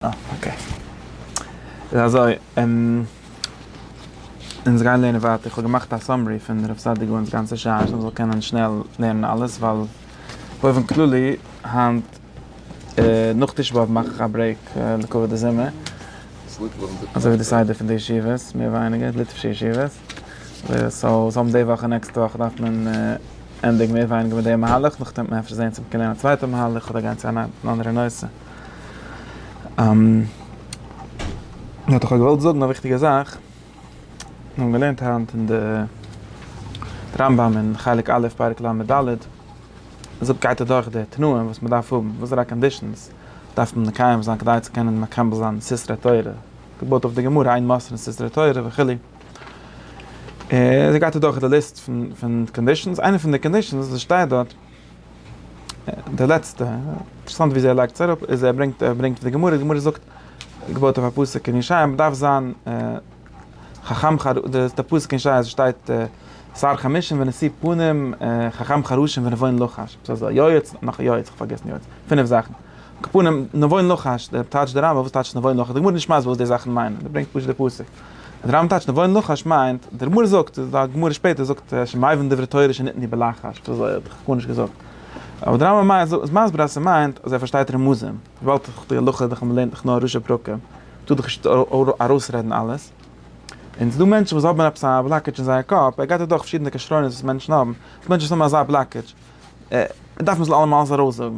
אה אקעי. איז אזוי, אונז גייען לערנען ווייטער, איך האב געמאכט א סאמערי פון הרב סעדי' גאון'ס גאנצע שער, אז מ'זאל קענען שנעל לערנען אלעס, ווייל באופן כללי היינט נאך תשעה באב מאך איך א ברעיק לכבוד די זומער, אזוי ווי די סדר פון די ישיבות, מער ווייניגער, ליטווישע ישיבות, סאו סתם די וואך און נעקסטע וואך דארף מען ענדיגן מער ווייניגער מיט די מהלך, נאכדעם וועט מען אפשר זעהן צו מ'קען לערנען א צווייטע מהלך אדער גיין צו אן אנדערע נושא. האט דאך געוואלט זאגן א וויכטיגע זאך, מיר האבן געלערנט היינט אין די רמב ם אין חלק א' פרק לד, דארט גייט ער דורך די תנאים וואס מען דארף האבן, וואסערע קאנדישאנס דארף מען מקיים זיין כדי צו קענען מקבל זיין סיסרא תורה, געבויט אויף די גמרא אין מס' אין סיסרא תורה וכו', און אזוי גייט ער דורך די ליסט פון קאנדישאנס, איינע פון די קאנדישאנס וואס שטייט דארט, די לעצטע, אינטערעסאנט ווי אזוי ער לייגט עס אראפ, איז ער ברענגט ער ברענגט פון די גמרא, די גמרא זאגט, געבויט אויף א פסוק אין ישעיה, מען דארף זיין חכם חרש, די פסוק אין ישעיה שטייט שר חמשים ונשיא פנים, חכם חרשים ונבון לחש, עפעס אזוי, יועץ, נאך א יועץ, איך האב פארגעסן יועץ, פינף זאכן, על כל פנים, נבון לחש, טייטשט די רמב ם, וואס טייטשט נבון לחש, די גמרא איז נישט מסביר וואס די זאכן מיינען, מען ברענגט פשוט די פסוק. אז רמ טייטשט נבון לחש מיינט, דער גמרא זאגט, די גמרא שפעטער זאגט שמעיבין דברי תורה שניתני בלחש, דאס האב איך גארנישט געזאגט, אבער דער רמב ם איז מסביר אז ס'מיינט אז ער פארשטייט רמזים, וויבאלד אויף די הלכה דאכט זיך מ'לערנט דאך נאר ראשי פרקים, טאר דאך נישט ארויסרעדן אלעס, און ס'דא מענטשן וואס האבן עפעס א בלאקעדזש אין זייער קאפ, ער גייט אדורך פארשידענע כשרונות וואס מענטשן האבן, מענטשן וואס האבן אזא בלאקעדזש, דארף מען עס אלעמאל אלעס ארויסזאגן.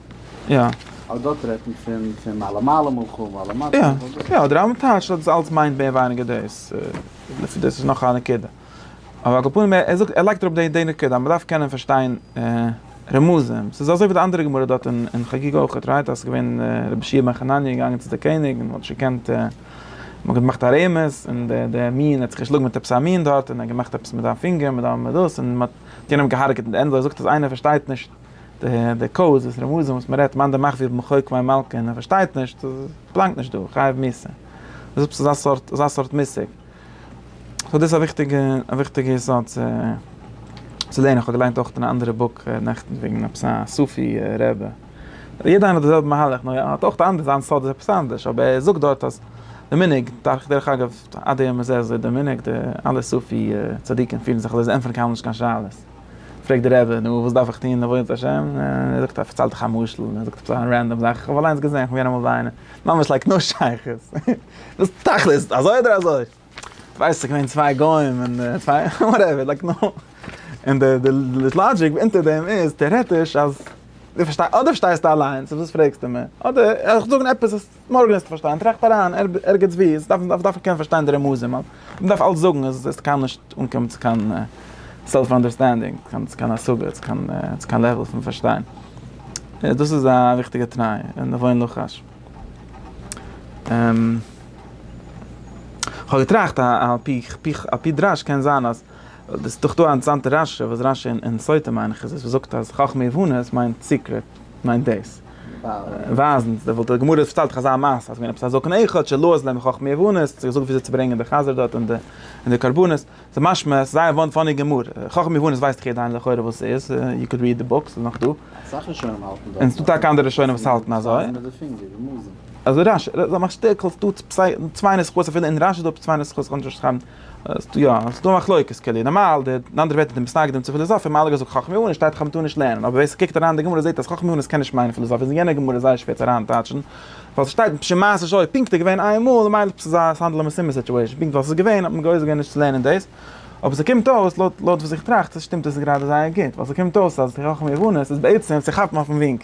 יא. אבער דארט רעדט מען פון פון מעלה מעלה מלכו ומעלה מטה. יא יא די רמב ם טייטשט אז דאס אלץ מיינט מער ווייניגער דאס, לפי דעס איז נאך א נקודה. אבער על כל פנים ער זאגט ער לייגט אראפ די די נקודה אז מען דארף קענען פארשטיין רמזים, ס'איז אזוי ווי די אנדערע גמרא דארט אין חגיגה אויך רייט אז ס'איז געווען רבי ש י בן חנניה איז געגאנגען צו די קעניג און האט נישט געקענט און האט געמאכט א רמז און די די מין האט זיך געשלאגן מיט עפעס א מין דארט און ער האט געמאכט עפעס מיט זיין פינגער מיט דאס און מען האט יענעם געהארגעט און ענדליך זאגט אז איינער פארשטייט נישט. די קאוז איז רמזים וואס מען רעדט, מאן דמחזיר ב מחוק וויין מלקה און ער פארשטייט נישט, פלאנגט נישט דא, חייב מיסה. דאס איז עפעס אזא סארט מושג. סאו דאס איז א וויכטיגע א וויכטיגע יסוד צו צו לערנען. איך האב געליינט אויך אין א אנדערע בוק נעכטן וועגן עפעס א סופי רעבע. יעדע איינער האט די זעלבע מהלך נאר ער האט אויך די אנדערע זיין סוד איז עפעס אנדערש אבער ער זאגט דארט אז די מנהג דארך דרך אגב עד היום הזה איז די מנהג די אלע סופי צדיקים פירן זיך אזוי זיי ענטפערן קיינמאל נישט קיין שאלות. פרעגט דער רבי, נו, וואס דארף איך טון, עבודת השם? ער זאגט, ער פארציילט דאך א משל, ער זאגט עפעס א רענדאם זאך, איך האב אליינס געזען, איך בין געווען אמאל ביי איינעם, ממש לייק נאו שייכות, וואס תכלית, אזוי אדער אזוי? כ'ווייס, ס'איז געווען צוויי גוים, און צוויי, וואטעווער, לייק נאו, און די לאגיק אונטער דעם איז, טעארעטיש, אז, אדער פארשטייסטו אליינס, וואס פרעגסטו מיר, אדער, איך זאג עפעס וואס. מארגן וועסטו פארשטיין, טראכט אריין ערגעץ ווי, עס דארף מען קענען פארשטיין די רמזים, מען דארף אלץ זאגן אז עס וועסטו קיינמאל נישט אנקומען צו קיין סעלף אנדערסטענדינג, צו קיין השגה, צו קיין לעוועל פון פארשטיין, דאס איז א וויכטיגע תנאי און עוון לחש. כ'האב געטראכט על פי דרש קען זיין אז, עס איז דאך דא א אינטערעסאנטע רשי וואס רשי אין סוטה מיין איך איז עס וואס זאגט אז חכמה יבנה עס מיינט סיקרעט מיינט דאס. ווייזן די וואלט די גמרא האט פארציילט אזא מעשה אז געווען עפעס א זקן אחד שלא עז להם חכמי עוונות האט געזאגט וויאזוי צו ברענגען די חזיר דארט און די קרבנות ס'איז משמע ס'איז זייער וואן פאני גמרא חכמי עוונות ווייסט דאך יעדער לכאורה וואס ס'איז יו קען ריעד די בוק ס'איז נאך דא אסאך ראשונים האלטן דאס און ס'דא טאקע אנדערע ראשונים וואס האלטן אזוי אזוי רש י זיי מאכן שטיקל ס'דא צוויי נוסחאות אפילו אין רש י איז דא צוויי נוסחאות כ'קען נישט אויסשרייבן יא, ס'איז דא מחלוקת קעלי, נארמאל די אנדערע ווערטער די מתנגדים צו פיליזאפיע האבן אלע געזאגט חכמי אונן שטייט חכם טאר נישט לערנען, אבער ווער ס'קוקט אריין אין די גמרא זעט אז חכמי אונן קען נישט מיינען פיליזאפיע, איז אין יענע גמרא זייער שווער צו אריין טייטשן, ווייל ס'שטייט בשם מעשה שהיה פונקט איז געווען איין מאל און מילא ס'איז א ס'איז האנדל א משימה סיטואשען פונקט ווייל ס'איז געווען האט מען געויסער געווען נישט צו לערנען דאס, אבער ס'קומט אויס לויט לויט וואס איך טראכט שטימט עס גראדע זייער גוט, ווייל ס'קומט אויס אז חכמי אונן איז בעצם צו כאפן אויפן ווינק.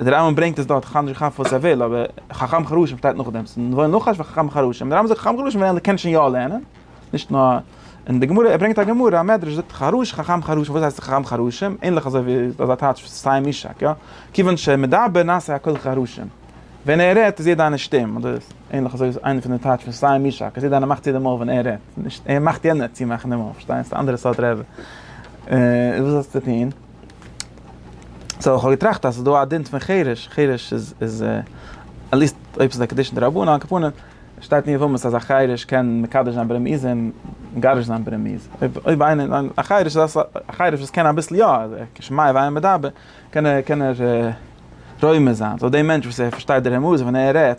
דער רמב ם ברענגט עס דארט, איך האב נישט געכאפט וואס ער וויל, אבער חכם חרשים שטייט נאכדעם, ס'איז נאר נאך א חכם חרשים, דער רמב ם זאגט חכם חרשים מיינט ער קען שוין יא לערנען, נישט נאר, און די גמרא, ער ברענגט א גמרא, א מדרש זאגט חרוש חכם חרשים, וואס הייסט חכם חרשים? ענליך אזוי ווי אזא טייטש וואס סיים משהק, יא? כיוון שמדבר נעשה הכל חרשים, ווען ער רעדט איז יעדע איינער שטום, אדער ענליך אזוי איז איינע פון די טייטש פון סיים משהק, אז יעדע איינער מאכט צו די מויל ווען ער רעדט, נישט ער מאכט יענער צומאכן די מויל, פארשטייסט? אנדערע סארט רעדע. און וואס האסטו צו טון? סאו כ'האב געטראכט אז ס'איז דא א דין פון חירש, חירש איז איז עטליעסט אויב ס'איז א קידושין דרבנן על כפנים, שטייט אין יבמות אז א חירש קען מקדש זיין ברמיזה און מגרש זיין ברמיזה, אויב אויב איינער א חירש איז א א חירש וואס קען אביסל יא, כשמיה ואינו מדבר, קען ער קען ער רומז זיין, סאו די מענטש וואס ער פארשטייט די רמזים ווען ער רעדט.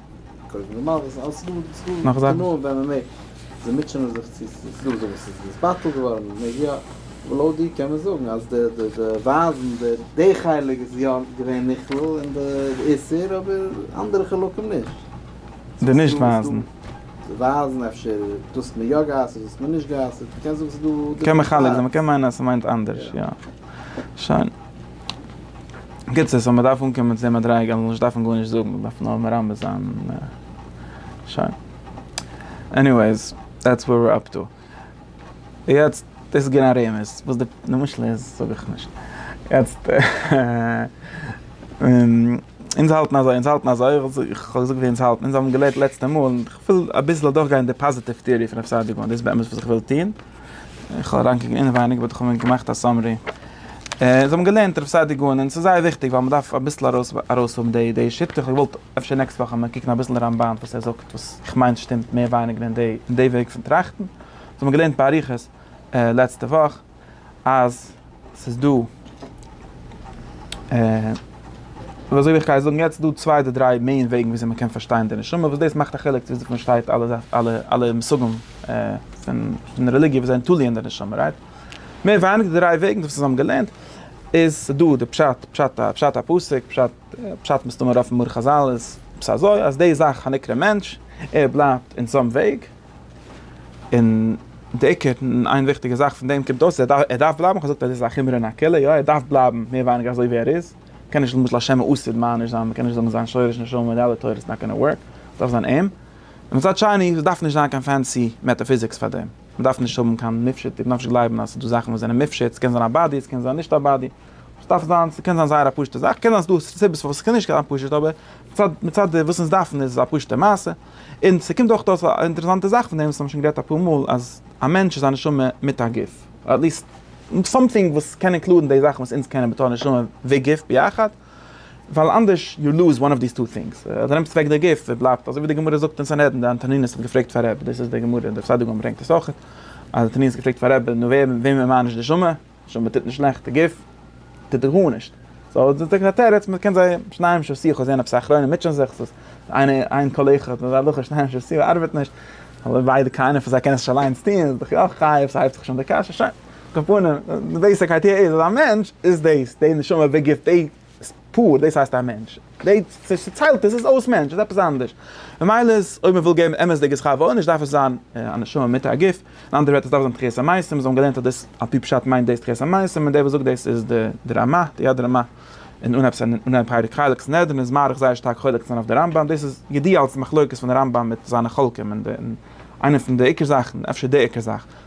קודם נארמאל וואס אלס איז דא ס'איז דא נאך זאכן נאר ווען מען מעג זיי מוטשענען זיך צו ס'איז דא אזוי וואס איז דאס בטל געווארן מען מעג יא אבער לויט דיר קען מען זאגן אז די די די ווייזן די די חלק איז יא געווען נכלל אין די איסור אבער אנדערע חלקים נישט די נישט ווייזן די ווייזן אפשר דאס האט מען יא גע'אסר'ט דאס האט מען נישט גע'אסר'ט קען זאגן ס'איז דא קען מחלק זיין מ'קען מיינען אז ס'מיינט אנדערש יא שוין. בקיצור, סאו מ'דארף אנקומען צו די מדריגה אז מ'זאל נישט דארפן גארנישט זאגן, מ'דארף נאר מרמז זיין און שוין. עניוועיס, דעטס ווער וויר אפ טו. יעצט, דאס איז געווען א רמז, וואס די משל איז זאג איך נישט. יעצט, אונז האלטן אזוי, אונז האלטן אזוי, איך האב געזאגט ווי אונז האלטן, אונז האבן געלערנט לעצטע מאל, און כ'וויל אביסל אדורכגיין די פאזיטיוו טעארי פון רב סעדיגורא, דאס איז באמת וואס איך וויל טון. איך האב אריינגעקוקט אינעווייניג באט איך האב מיר געמאכט א סאמערי. זיי האבן געלערנט רבי סעדיגורן און ס'איז זייער וויכטיג ווייל מען דארף אביסל ארויס ארויסהאבן די די שיטה. איך האב געוואלט אפשר נעקסט וואך אז מיר קוקן אביסל רמבן וואס ער זאגט וואס איך מיין שטימט מער ווייניגער אין די אין די וועג פון טראכטן. זיי האבן געלערנט באריכות לעצטע וואך אז. ס'איז דא, ווי אזוי איך גיי זאגן יעצט, דא צוויי אדער דריי מעין וועגן ווי אזוי מ'קען פארשטיין די נשמה, וואס דאס מאכט א חילוק צו וויאזוי מ'פארשטייט אלע אלע אלע מושגים פון רעליגיע וואס זענען תלוי אין די נשמה, רייט? מער ווייניגער די דריי וועגן וואס אונז האבן געלערנט, איז ס'דא די פשט, פשט א, פשט א פסוק, פשט, פשט מסתמא אויפן מאור חזל איז עפעס אזוי, אז די זאך הנקרא מענטש, ער בלייבט אין צום וועג, און די עיקר, איין וויכטיגע זאך פון דעם קומט אויס, ער דארף, ער דארף בלייבן, כ'האב געזאגט אז עס איז א חומרא נקלה, יא ער דארף בלייבן מער ווייניגער אזוי ווי ער איז, מ'קען נישט למשל השם הוא אסור מייניש זיין, מ'קען נישט זאגן זיין שורש נשמה און די אלע תורות נאט גאנא ווארק, ס'דארף זיין אים. און מצד שני, ס'דארף נישט זיין קיין פענסי מעטאפיזיקס פאר דעם, מ'דארף נישט האבן קיין מופשט, מ'דארף נישט גלייבן אז ס'דא זאכן וואס זענען מופשט, ס'קען זיין א באדי, ס'קען זיין נישט א באדי, ס'דארף זיין, ס'קען זיין זייער א פשוט'ע זאך, קען זיין ס'דא סיבות פארוואס ס'קען נישט זיין פשוט, אבער מצד, מצד די וואס אונז דארפן איז עס א פשוט'ע מעשה. און ס'קומט אויך אויס א אינטערעסאנטע זאך פון דעם וואס האבן שוין גערעדט אפאר מאל אז א מענטש איז א נשמה מיט א גוף, אדער עטליסט סאמטינג וואס קען אינקלודן די זאכן וואס אונז קענען בתור נשמה וגוף ביחד, ווייל אנדערש יו לוז וואן אוו דיס טו טינגס, אדער נעמסט אוועק די גוף און בלייבט אזוי ווי די גמרא זאגט אין סנהדרין, די אנטונינוס האט געפרעגט פאר ר', דאס איז די גמרא, די פסאדו גמ' ברענגט עס אויכעט, אז אנטונינוס האט געפרעגט פאר ר', נו ווער, וועמען מאניש נשמה? שוין מען טוט נישט שלעכטע גוף טוט ער גארנישט סאו דאס איז א תירוץ מען קען זיי שניים של שיח זעהן אויף סך רואים מוטשען זיך סאיז איינע איין קאלעכע האט מיר זיי שניים של שיח ארבעט נישט אבער ביידע קיינער פון זיי קען עס נישט אליינס טוהן איז דאך יא חייב סהייבט זיך שוין די קשיא שוין כפונים די בעיסיק איידיע איז אז א מענטש איז דאס די נשמה די גוף די איז פאר, דאס הייסט א מענטש. די צעטיילטע איז אויס מענטש, איז עפעס אנדערש. ממילא איז, אויב מען וויל געבן אמת'דיגע שכר ועונש, דארף עס זיין א נשמה מיט א גוף. אין אנדערע ווערטער עס דארף זיין תחיית המתים, און זיי האבן געלערנט אז דאס על פי פשט מיינט דאס תחיית המתים, און דער וואס זאגט דאס איז די רמא, די יד רמא, און אנהייב סנ, אנהייב פרק חלק סנהדרין איז מאריך זייער שטארק חולק צו זיין אויף די רמב ם, דאס איז ידוע אלס מחלוקת פון די רמב ם מיט זיינע חולקים, און איינע פון די עיקר זאכן, אפשר די עיקר זאך.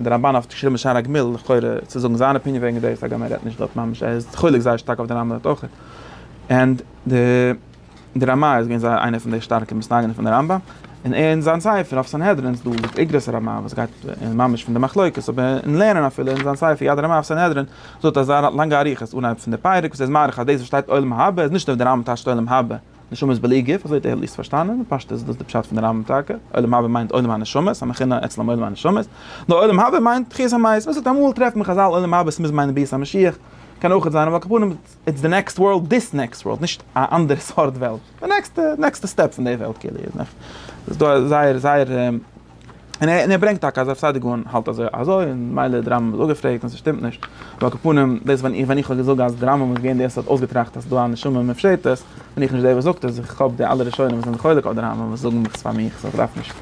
דער רמבן האט געשריבן בשער הגמיל, לכאורה צו זאגן זיין אפיניען וועגן דאס, הגם ער רעדט נישט דארט ממש, ער איז חולק זייער שטארק אויף דער רמבן דארט אויך, ענד דער רמא איז געווען זייער איינער פון די שטארקע מסתייגים פון דער רמבן, און ער אין זיין ספר אויף סנהדרין איז דא איגרות הרמא וואס גייט ממש פון די מחלוקת, אבער אין לערנען אפילו אין זיין ספר יד הרמא אויף סנהדרין זאגט ער זייער לאנגע אריכות אנהייב פון די פרק וואס ער איז מאריך אז דאס וואס שטייט עולם הבא איז נישט אויף דער רמבן טייטשט עולם הבא. נשמה איז בלי גוף, אזוי האט ער עטליעסט פארשטאנען, פשטות איז דאס די פשט פון די רמב ם טאקע, עולם הבא מיינט עולם הנשמות, המכינה אצלם עולם הנשמות, נאר עולם הבא מיינט תחיית המית, וואס איז אמאל טרעפט מען חזל עולם הבא, עס מוז מיינען ביאת המשיח, קען אויך זיין אבער על כל פנים איטס די נעקסט ווארלד, דיס נעקסט ווארלד, נישט א אנדערע סארט וועלט, די נעקסטע, נעקסטע סטעפ פון די וועלט כאילו, איז דא זייער זייער. און ער ברענגט טאקע אז רב סעדיגון האלט אזוי אזוי און מילא די רמב ם איז אפגעפרעגט און ס'שטימט נישט ועל כפנים דאס ווען איך ווען איך האב געזאגט אז די רמב ם איז געווען דער וואס האט אויסגעטראכט אז ס'איז דא א נשמה מופשטת בין איך נישט דער וואס זאגט עס איך כאפ די אלע ראשונים וואס זענען חולק אויף די רמב ם וואס זאגן איך פאר מיך סאו כ'דארף נישט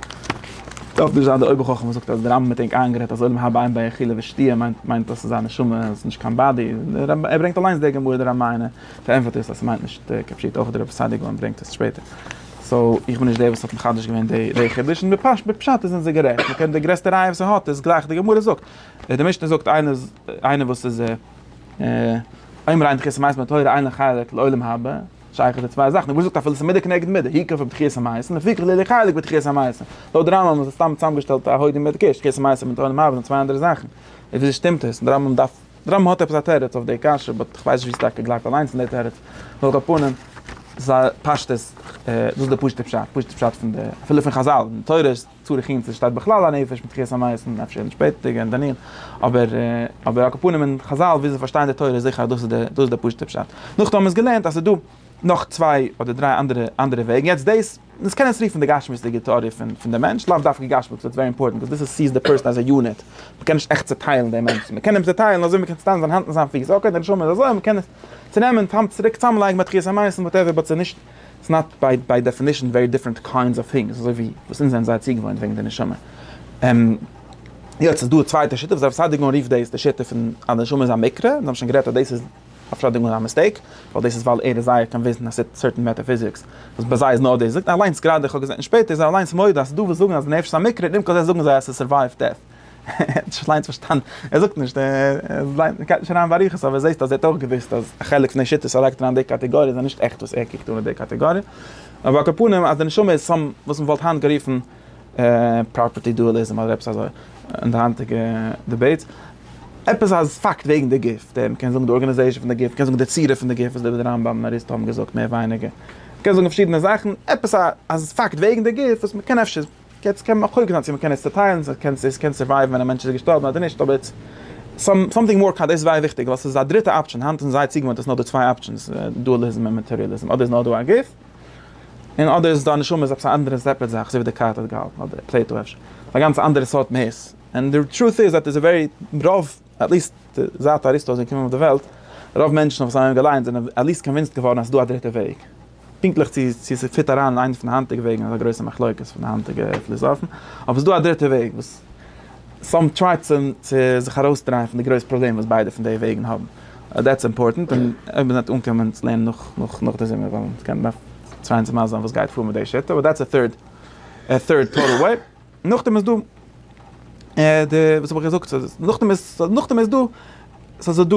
דארף נישט זיין דער אויבערחכם וואס זאגט אז די רמב ם האט ענק איינגערעדט אז עולם הבא אין ביי אכילה ושתיה מיינט מיינט אז ס'איז א נשמה ס'איז נישט קיין באדי ער ברענגט אליינס די גמרא די רמ ע און ער פארענטפערט איר אז ס'מיינט נישט כפשוטו אויך דער רב סעדיגון ברענגט עס שפעטער. סאו איך בין נישט דער וואס האט מחדש געווען די חידוש, און בפשט זענען זיי גערעכט, מען קען די גרעסטע ראיה וואס ער האט איז גלייך די גמרא זאגט, די משנה זאגט איינער וואס איז עומר עין דחיית המעשים בתורה אין לו חלק לעולם הבא, שייך איז די צוויי זאכן, די גמרא זאגט אפילו ס'איז מידה כנגד מידה, היכא פון דחיית המעשים לפי כ ליה חלק בדחיית המעשים, לויט די רמב ם איז עס סתם צוזאמגעשטעלט א הוידו מדגיש, דחיית המעשים מיט עולם הבא זענען צוויי אנדערע זאכן, איז ווי אזוי שטימט עס? די רמב ם דארף. די רמב ם האט עפעס א תירוץ אויף די קשיא, באט כ'ווייס נישט ווי ס'טאקע גלייבט אליינס אין די תירוץ. על כל פנים, זיי פשט איז, דאס איז די פשוטע פשט, פשוטע פשט פון די, אפילו פון חזל, אין תורה איז צור יחין צו שטייט בכלל א נפש מיט תחיית המית און אפשר אין שפעטערדיגע אין דניאל, אבער אבער על כל פנים אין חזל ווי זיי פארשטייען די תורה זיכער אז דאס איז די דאס איז די פשוטע פשט. נאכדעם האבן מיר עס געלערנט אז ס'איז דא נאך צוויי אדער דריי אנדערע אנדערע וועגן, יעצט דאס. דאס קען עס רופן די גשמיות'דיגע טעאריע פון די מענטש, לאו דווקא גשמיות, ס'ווערט ווערי אימפארטענט ביז דאס סיעס די פערסאן עז א יוניט, מ'קען נישט עכט צעטיילן דעם מענטשן, מ'קען אים צעטיילן אזוי מ'קען צעטיילן זיין האנט און זיין פיס, אקעי די נשמה איז אזוי, מ'קען עס צונעמען, צוריק צוזאמלייגן ביי תחיית המתים וואטעווער, באט ס'איז נישט, ס'איז נאט ביי דעפינישן ווערי דיפרענט קיינדס אוו טינגס, אזוי ווי וואס אונז זענען זייער צוגעוואוינט וועגן די נשמה. יעצט איז דא א צווייטע שיטה וואס הרב סעדיגורן רופט דאס די שיטה פון אז די נשמה איז א מקרה, און זיי האבן שוין גערעדט אז דאס איז. אפשאדונג און א מיסטעיק, ווייל דאס איז ווייל ער איז זייער קאנוויסד אין א סערטען מעטעפיזיקס, וואס ביי זיי איז נאר דאס, זאגט ער אליינס גראדע, איך האב געזען שפעטער איז ער אליינס מודה אז ס'איז דא וואס זאגן אז די נפש איז א מקרה, און עם כל זה זאגן זיי אז ס'איז סורווייוו דעט. ער האט נישט אליינס פארשטאנען, ער זאגט נישט, ער גייט נישט אריין באריכות, אבער זעסט אז ער האט אויך געוואוסט אז א חלק פון די שיטות ער לייגט אריין אין די קאטעגאריע זענען נישט עכט וואס ער קוקט אן אין די קאטעגאריע, אבער על כל פנים אז די נשמה איז סאם וואס מ'וואלט היינט גערופן. פראפערטי דועליזם אדער עפעס אזוי אין די היינטיגע דיבעיטס, עפעס א פאקט וועגן די גוף, די מ'קען זאגן די ארגאניזעישאן פון די גוף, מ'קען זאגן די צורה פון די גוף, אזוי ווי די רמב ם און אריסטו האבן געזאגט מער ווייניגער, מ'קען זאגן פארשידענע זאכן, עפעס א פאקט וועגן די גוף וואס מ'קען אפשר, יעצט קען מען מחלוק זיין צו מ'קען עס צוטיילן, צו קען עס קען סורווייוון ווען א מענטש איז געשטארבן אדער נישט, אבער איטס סאמטינג מאר קאנ, דאס איז זייער וויכטיג ווייל ס'איז א דריטע אפשען, היינט זענען זייער צוגעוואוינט אז ס'נאר דא צוויי אפשענס, דועליזם און מאטעריאליזם, אדער איז נאר דא א גוף, און אדער איז דא א נשמה איז עפעס א אנדערע סעפערעט זאך אזוי ווי דעקארט האט געהאלטן אדער פלעיטא אפשר א גאנץ אנדערע סארט מהות און די טרוט איז עט איז ווערי רוב עטליסט זייט אריסטו איז געקומען אויף די וועלט רוב מענטשן וואס האבן אים געליינט זענען עטליסט קאנווינסט געווארן אז ס'איז דא א דריטע וועג פונקטליך צו צו ס'פיט אריין אין איינע פון די היינטיגע וועגן איז א גרויסע מחלוקת פון די היינטיגע פליזאפן אבער ס'איז דא א דריטע וועג וואס. סאם טריי צו זיך ארויסדרייען פון די גרויס פראבלעם וואס ביידע פון די וועגן האבן, דעטס אימפארטענט, און אויב מען וועט אנקומען צו לערנען נאך נאך די זומער וועלן קען מען צוויי אונז מסביר זיין וואס גייט פאר מיט די שיטה, אבער דעטס א טוירד א טוירד טאטעל וועי, נאכדעם איז דא די וואס האב איך געזאגט נאכדעם איז נאכדעם איז דא סאיז דא.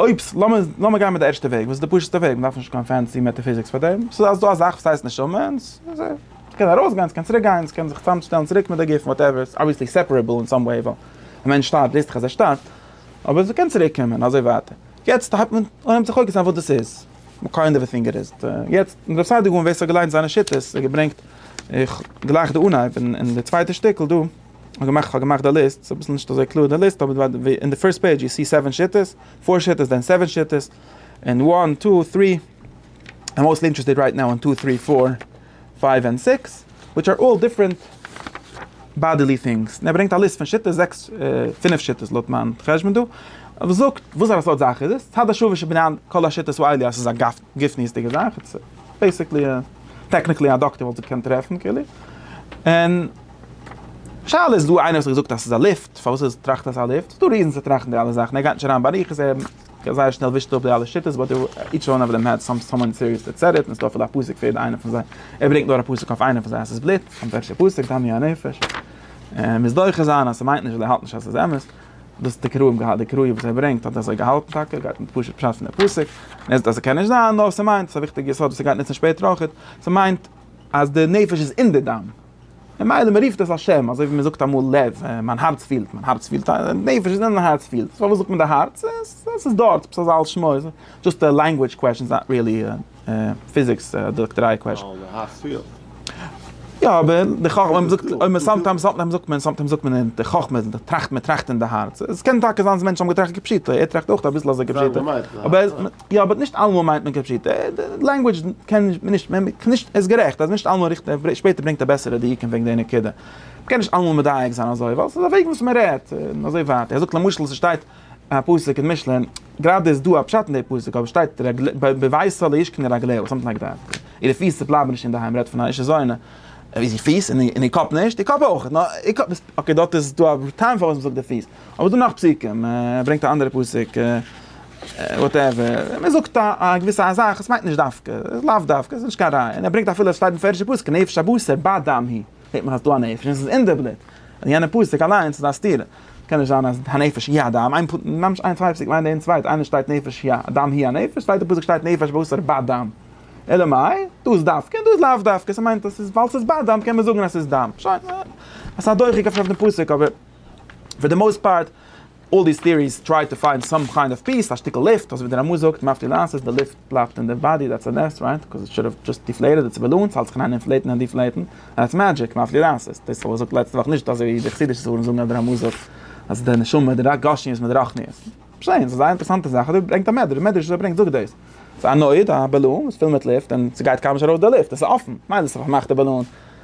אויב ס, לאמיר, לאמיר גיין מיט די ערשטע וועג, וואס איז די פשוט'סטע וועג, מ'דארף נישט קיין פענסי מעטעפיזיקס פאר דעם, ס'איז אז דא א זאך וואס הייסט נשמה, און ס, ס'קען ארויסגיין, ס'קען צוריק גיין, ס'קען זיך צוזאמשטעלן צוריק מיט די גוף, וואטעווער, ס'איז אבוויעסלי סעפערעבל אין סאם וועי, ווייל ווען מענטש שטארבט ווייסט דאך אז ער שטארבט, אבער ס'קען צוריק קומען, אזוי ווייטער. יעצט הייבט מען אן צו פאוקעסן אויף וואס דאס איז, מקור און דערפינגעריסט, יעצט רב סעדיגורן ווער ס'האט געליינט זיינע שיטות, ער האט געברענגט, איך גלייך די אנהייב אין די צווייטע שטיקל דא. כ'האב געמאכט כ'האב געמאכט די ליסט, ס'איז אביסל נישט אזוי קלאר די ליסט, אבער אין די פירסט פעידזש יו סי סעווען שיטות, פאר שיטות דען סעווען שיטות, און וואן טו טרי, איים מאוסטלי אינטערעסטעד רייט נאו און טו טרי פאר פייוו און סיקס, וויטש אר אלל דיפרענט באדעלי טינגס, און ער ברענגט א ליסט פון שיטות, זעקס פינף שיטות לויט מיין חשבון דא, וואס זאגט וואסארא סארט זאך איז עס, צד השווה שבענין כל השיטות הוא עלי' אז ס'איז א גופניות'דיגע זאך, איטס בעיסיקלי, טעקניקלי א דאקטער וואלט זיך געקענט טרעפן כאילו, און. שאלה איז דא איינער וואס האט געזאגט אז ס'איז א ליפט, פארוואס איז טראכט אז ס'איז א ליפט? ס'איז דא ריזענס צו טראכטן די אלע זאכן, ער גייט נישט אריין באריכות, ער זייער שנעל ווישט אפ די אלע שיטות, באט איטש וואן אוו דעם האט סאם סאמאן סיריעס דעט סעד איט, און ס'איז דא אפילו א פסוק פאר יעדע איינע פון זיי, ער ברענגט נאר א פסוק אויף איינע פון זיי אז ס'איז בלוט, און וועלכע פסוק, דמי הנפש, און מוז דוחה זיין אז ס'מיינט נישט אז ער האלט נישט אז ס'איז אמת, דאס האט די קראים געהאלט, די קראים וואס ער ברענגט האט אזוי געהאלטן טאקע, ער גייט מיט פשוט פשט פון די פסוק, און ער זאגט אז ס'קען נישט זיין, נאר ס'מיינט, ס'איז א וויכטיגע יסוד וואס ער גייט נוצן שפעטער אויכעט, ס'מיינט אז די נפש איז אין די דם. ממילא מען רופט עס א שם, אזוי ווי מען זאגט אמאל לב, מיין הארץ פילט, מיין הארץ פילט, נפש איז אין הארץ פילט, פארוואס זאגט מען די הארץ, עס איז דארט, עפעס אזא על שמו, דזשאסט א לענגווידזש קוועשאן, איז נאט ריעלי א פיזיקס אדער דאקטעריי קוועשאן. ווייל די הארץ פילט. יא אבער די חכמה, אויב מען זאגט, אויב מען סאמטיימס זאגט מען, סאמטיימס זאגט מען, זאגט מען אין די חכמה, די טראכט, מען טראכט אין די הארץ, עס קען טאקע זיין אז מענטשן האבן געטראכט כפשוטו, ער טראכט אויך אביסל אזוי כפשוטו, אבער. יא באט נישט אלעמאל מיינט מען כפשוטו, די לענגווידזש קען נישט, מען קען נישט, ער איז גערעכט אז נישט אלעמאל ריכט ער, שפעטער ברענגט ער בעסערע דיוקים וועגן די נקודה. מען קען נישט אלעמאל מדייק זיין אזוי, ווייל ס'איז א וועג וואס מען רעדט, און אזוי ווייטער. ער זאגט למשל ס'שטייט א פסוק אין משלי, גראדע איז דא א פשט אין די פסוק, אבער ס'שטייט בביתו לא ישכנו רגליו, סאמטינג לייק דעט. אירע פיס בלייבן נישט אינדערהיים, רעדט פון א אישה זונה. איז איר פיס, און איר קאפ נישט? איר קאפ אויך. אקעי דארט איז דא א טעם פארוואס מען זאגט די פיס. אבער ס'דא נאך פסוקים, ער ברענגט א אנדערע פסוק, וואטעווער, מען זאגט א געוויסע א זאך, עס מיינט נישט דווקא, לאו דווקא, עס איז נישט קיין ראיה, און ער ברענגט אפילו עס שטייט אין פערדישע פסוק נפש הבשר בה דם היא, זעט מען אז ס'דא א נפש און עס איז אין די בלוט, און יענע פסוק אליינס איז א סתירה, קען נישט זיין אז הנפש היא הדם, איין ממש איין צוויי פסוקים איינער אין צווייטער, איינער שטייט נפש היא הדם היא הנפש, צווייטע פסוק שטייט נפש הבשר בה דם, אלא מאי, דא איז דווקא און דא איז לאו דווקא, ס'מיינט אז ס'איז ווייל ס'איז בה דם קען מען זאגן אז ס'איז דם, שוין, עס איז א דוחק אויף דעם פסוק אבער. פאר די מאוסט פארט, אלל דיס טעאריס טריי טו פיינד סאם קיינד אוו פיס, א שטיקל לופט, אזוי ווי דער רמא זאגט, מאפטיר לאנצעס, די לופט בלייבט אין די באדי, דעטס א נס, רייט? קאז איט שוד האוו דזשאסט דיפלעיטעד איטס באלאנס, האלט זיך אריין אינפלעיטן און דיפלעיטן, דעטס מעדזשיק, מאפטיר לאנצעס, דאס האב איך געזאגט לעצטע וואך, נישט אזוי ווי די חסידישע ספרים זאגן אז דער רמא זאגט אז די נשמה די גשמיות מיט די רחניות, שוין, ס'איז א זייער אינטערעסאנטע זאך, אבער ברענגט א מדרש, די מדרש וואס ער ברענגט זאגט דאס, ס'איז א נויד, א באלון, וואס איז פול מיט לופט, און ס'גייט קיינמאל נישט ארויס די לופט, עס איז אפן, מילא ס'איז א פארמאכטע באלון.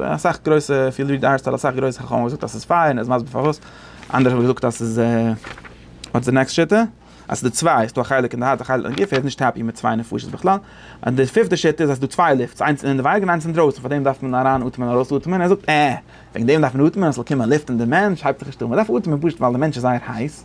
אסאך גרויסע פיל ריעד ארטיקל אסאך גרויסע חכמים האבן געזאגט אז ס'איז פיין און עס מסביר פארוואס, אנדערע האבן געזאגט אז ס'איז וואטס די נעקסט שיטה? אז ס'איז דא צוויי איז דא א חלק אין די הארץ א חלק אין די גוף ער איז נישט העפי מיט צוויי נפשות בכלל, און די פיפטע שיטה איז אז ס'איז דא צוויי לופטס איינס אינעווייניג און איינס אינדרויסן פאר דעם דארף מען אריין אטעמען ארויס אטעמען, ער זאגט עה! וועגן דעם דארף מען אטעמען אז ס'זאל קומען לופט אין די מענטש הייבט זיך נישט אן, מ'דארף אטעמען פשוט ווייל די מענטש איז זייער הייס.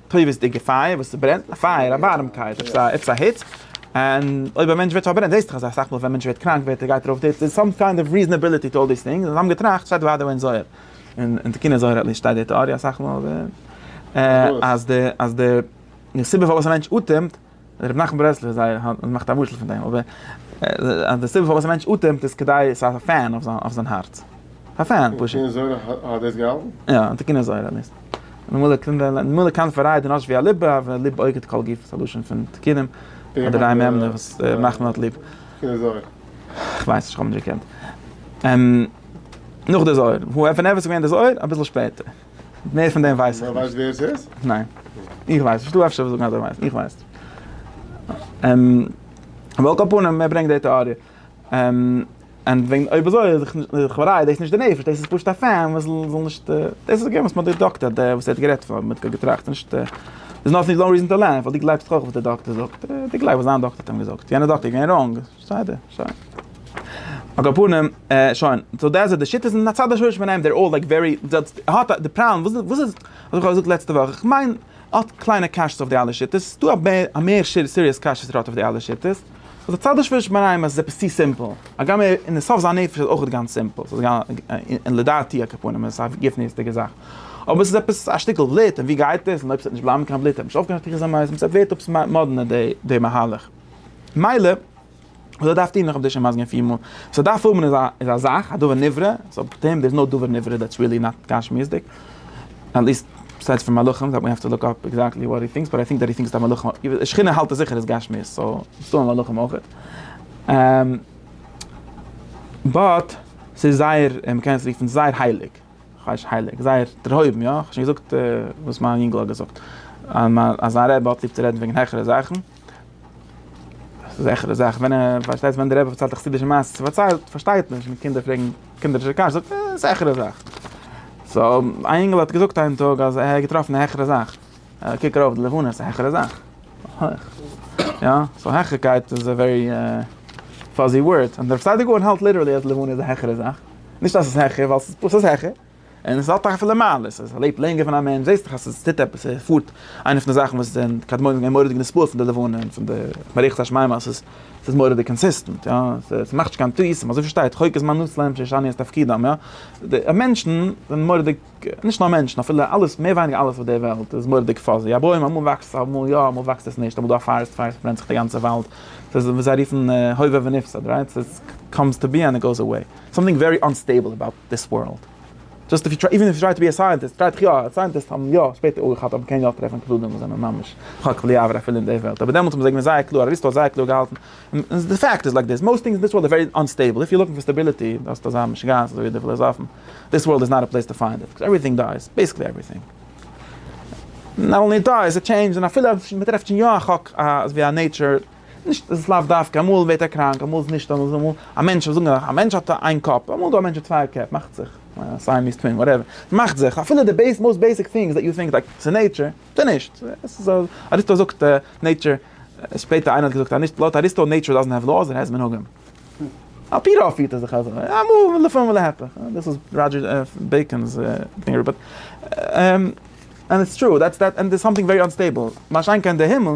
טובות'דיגע פייער וואס ס'ברענט, א פייער, א ווארעמקייט, עפעס א, עפעס א היץ, און אויב א מענטש ווערט פארברענט, זעסט דאך אזא סאך מאל ווען א מענטש ווערט קראנק ווערט ער גייט ארויף די היץ, דער איז סאם קיינד אוו ריזענעבילעטי טו אלל דיס טינגס, און זיי האבן געטראכט, שטייט אוודאי אין זוהר, אין תיקוני זוהר עטליסט שטייט די טעאריע אסאך מאל, אז די, אז די, די סיבה פארוואס א מענטש אטעמט, רבי נחמן ברסלב זי ע מאכט א משל פון דעם, אבער אז די סיבה פארוואס א מענטש אטעמט איז כדי עס האט א פען אויף זיין הארץ. א פען פשוט. און תיקוני זוהר האט דאס געהאלטן? יא, און תיקוני זוהר האט דאס. ממילא קלינגט דיין לעבן, ממילא קאנט פאררייטן אזש ווי א ליבע, ווען ליבע אוגערט כל גוף, ס'איז א לשון פון תיקונים, אדער דיין מ מ וואס רבי נחמן האט ליב. תיקוני זוהר. כ'ווייס נישט, כ'האב נישט געקענט. נאך די זוהר. ווען איז עס געווען די זוהר? אביסל שפעטער. מער פון דעם ווייס איך נישט. ווייסט ווער עס איז? ניין. איך ווייס נישט. דו אפשר וועסט זאגן אז דו ווייסט. איך ווייס נישט. על כל פנים, ער ברענגט די טעאריע. און וועגן אויב אזוי איז לכאורה דאס נישט די נפש, דאס איז פשוט א פען וואס זאל נישט, דאס איז געווען וואס מ'האט געדאגה'ט אז דער וואס ער האט גערעדט פון האט מיט געטראכט, נישט דער איז נאט נאו ריזען טו ליי, ווייל דו גלייבסט דאך אויף וואס דער דאקטער זאגט, דו גלייבסט וואס זיין דאקטער האט אים געזאגט, יענער דאקטער איז געווען ראנג. בסדר, שוין. על כל פנים, שוין. סאו דעס איז די שיטות און הצד השורש ביניהם, דער אלל לייק ווערי, האט די פראבלעם, וואס איז, האב איך אויך געזאגט לעצטע וואך, איך מיין, האט קליינע קשיות אויף די אלע שיטות, ס'איז דא א מער סיריעס קשיות וואס ער האט אויף די אלע שיטות, אז די הצד השורש ביניהם אז עס איז עפעס צו סימפל, הגם ער אין די סוף זיין נפש איז אויך גאנץ סימפל, און לדעתי על כל פנים איז עס א גופניות'דיגע זאך, אבער עס איז עפעס א שטיקל בלוט, און ווי גייט עס, און אויב עס וועט נישט בלייבן קיין בלוט, עס וועט נישט אויפקומען א תחיית המתים, עס ווערט עפעס מאדנע די מהלך. מילא, וואס ער דארף טון, איך האב דיר שוין מסביר געווען פיר מאל, וואס ער דארף האבן איז א זאך, א דבר נברא, סאו פאר אים דער איז נאר דבר נברא, דעטס ריעלי נאט גשמיות'דיג, עטליסט בּעסיידס פון מלאכים, ווי האסט צו לוק אפּ עקזעקטלי וואט הי טינקס, באט איי טינק דעט הי טינקס דעט מלאכים, שכינה האלט ער זיכער איז גשמיות, סאו ס'איז דא מלאכים אויכעט, באט ס'איז זייער, מ'קען עס רופן זייער הייליג, כאניש הייליג, זייער דערהויבן, יא? כ'האב שוין געזאגט וואס מיין יונגל האט געזאגט, אז זיין רבי האט ליב צו רעדן וועגן העכערע זאכן. זעכערע זאך, ווען ער פארשטייט ווען די רבי פארציילט א חסידישע מעשה צו פארציילט פארשטייט מען נישט, קינדער פרעגן קינדערישע קשיות, זאגט ער זעכערע זאך. סא א אינגעל האט געזאגט איין טאג אז ער האט געטראפן א העכערע זאך, קוק ארויף די לבנה ס'איז א העכערע זאך, הויך, יא, סאו העכערקייט איז א ווערי פאזי ווארד, און דער פסאדער גאון האלט ליטערלי אז די לבנה איז א העכערע זאך, נישט אז ס'איז העכער ווייל ס'איז פשוט העכער. און עס האט דאך אפילו מעלות, אז ער לעבט לענגער פון א מענטש, זעסט דאך אז עס טוט עפעס, ער פארט, איינע פון די זאכן וואס די קדמונים זענען מורא'דיג נספעל פון די לבנה און פון די מערכת השמים אז עס איז מורא'דיג קאנסיסטענט, יא, עס מאכט נישט קיין טעותים, אזוי פארשטייט חוק הזמן נוס להם שישני את תפקידם, יא, די מענטשן זענען מורא'דיג, נישט נאר מענטשן, אפילו אלעס, מער ווייניגער אלעס אויף דער וועלט איז מורא'דיג פאזי, א בוים אמאל וואקסט עס, אמאל יא, אמאל וואקסט עס נישט, אמאל דא א פארעסט פייער, עס ברענט זיך דער גאנצער וואלד, עס איז ווי זיי רופן הווה ונפסד, רייט, עס קאמס טו בי ענד עס גאוס עוועי. סאמטינג ווערי אנסטעיבל אבאוט דיס ווארלד. דזשאסט איוו טריי, איווען איוו טריי טו בי א סייענטיסט, טריי דיך יא, סייענטיסט האבן יא שפעטער אויך געהאט אבער קען יא טרעפן קלדים וואס זענען ממש חק בלי עבר אפילו אין די וועלט אבער דעמאלטס האבן זיי געווען זייער קלאר, אריסטו האט זייער קלאר געהאלטן, און די פעקט איז לייק דיס, מאוסט טינגס אין דיס ווארלד איז ווערי אנסטעיבל, איף יו לוקינג פאר סטעבילעטי האסטו אזא משוגעת אזוי ווי די פילאזאפן, דיס ווארלד איז נאט א פלעיס טו פיינד איט, קאוז עווריטינג דייס, בעיסיקלי עווריטינג נאט אנלי דייס, איט טשעינדזשס, און אפילו אז מ'טרעפט שוין יא א חק, אזווי א נעיטשער. נישט עס איז לאו דווקא אמאל ווערט ער קראנק אמאל איז נישט אמאל איז א מענטש זאגן מיר א מענטש האט איין קאפ אמאל איז דא א מענטש מיט צוויי קעפ מאכט זיך סייעמיז טווין וואטעווער ס'מאכט זיך אפילו די בעיס מאוסט בעיסיק טינגס דעט יו טינק לייק ס'איז נעיטשער ס'איז נישט אריסטו זאגט נעיטשער שפעטער איינער האט געזאגט אז נישט לויט אריסטו נעיטשער דאזענט העוו לאוס איט העז מנהגים על פי רוב פירט ער זיך אזוי אמאל לפעמים ולהיפך דאס איז ראדזשער בעיקאן'ס דינגער באט ענד איטס טרו דעטס דעט ענד איטס סאמטינג ווערי אנסטעיבל מה שאין כן די הימל.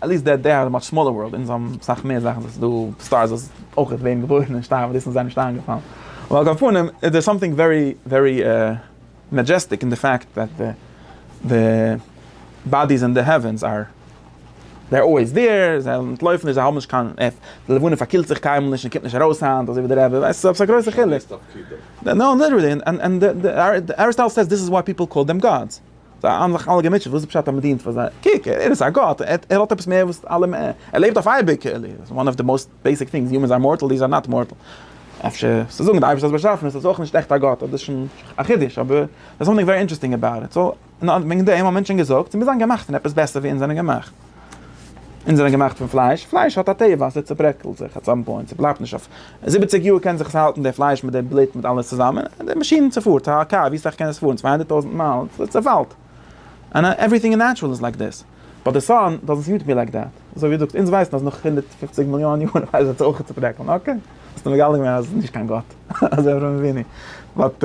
עט ליסט דעט דעי האד א מאטש סמאלער ווארלד, אונז האבן אסאך מער זאכן, ס'איז דא סטארס וואס אויך ווערן געבוירן און שטארבן און דאס איז זיי נישט איינגעפאלן, אבער על כל פנים איז דער סאמטינג ווערי ווערי מעדזשעסטיק אין די פעקט דעט די די באדיס אין די העווענס אר דער אלוועיס דעיר, זיי אנטלויפן נישט זיי האבן נישט קיין עף, די לבנה פארקילט זיך קיינמאל נישט און קומט נישט ארויס היינט אזוי ווי די רעבע ווייסט עפעס א גרויסע חילוק. נאו ליטערלי און און אריסטאטעל סעיס דיס איז וואי פיפעל קאל דעם גאדס. זיי האבן זיך אלע געמוטשעט וואס איז פשט אז מען דינט פאר זיי, קוק ער איז א גאט ער האט עפעס מער וואס אלע מער, ער לעבט אויף אייביג, וואן אוו די מאוסט בעיסיק טינגס, יומענס אר מארטעל דיערס אר נאט מארטעל, אפשר צו זאגן די אייבערשטער'ס באשאפעניש איז אויך נישט עכט א גאט, אבער דאס איז שוין א חידוש, אבער דער סאמטינג ווערי אינטערעסטינג אבאוט איט, סאו וועגן דעם האט מענטשען געזאגט, מיר זענען געמאכט פון עפעס בעסער ווי אונז זענען געמאכט. אונז זענען געמאכט פון פלייש, פלייש האט א טבע אז עס צוברעקלט זיך עט סאם פוינט, עס בלייבט נישט אויף זיבעציג יאר קען זיך עס האלטן די פלייש מיט די בלוט מיט אלעס צוזאמען, די מאשין צופארט א קאר ווי סאך קען עס פארן צוויי הונדערט טויזענט מייל עס צופאלט אנע עווריטינג אין נעטשרעל איז לייק דיס באט די סאן דאזענט סוט מי לייק דעט אזוי ווי דו זאגסט אונז ווייסן אז נאך הונדערט פֿופֿציק מיליאן יאר וועט זיך עס אויך צוברעקלן אקעי האסט מגלה געווען אז עס איז נישט קיין גאט אזוי אברהם אבינו באט.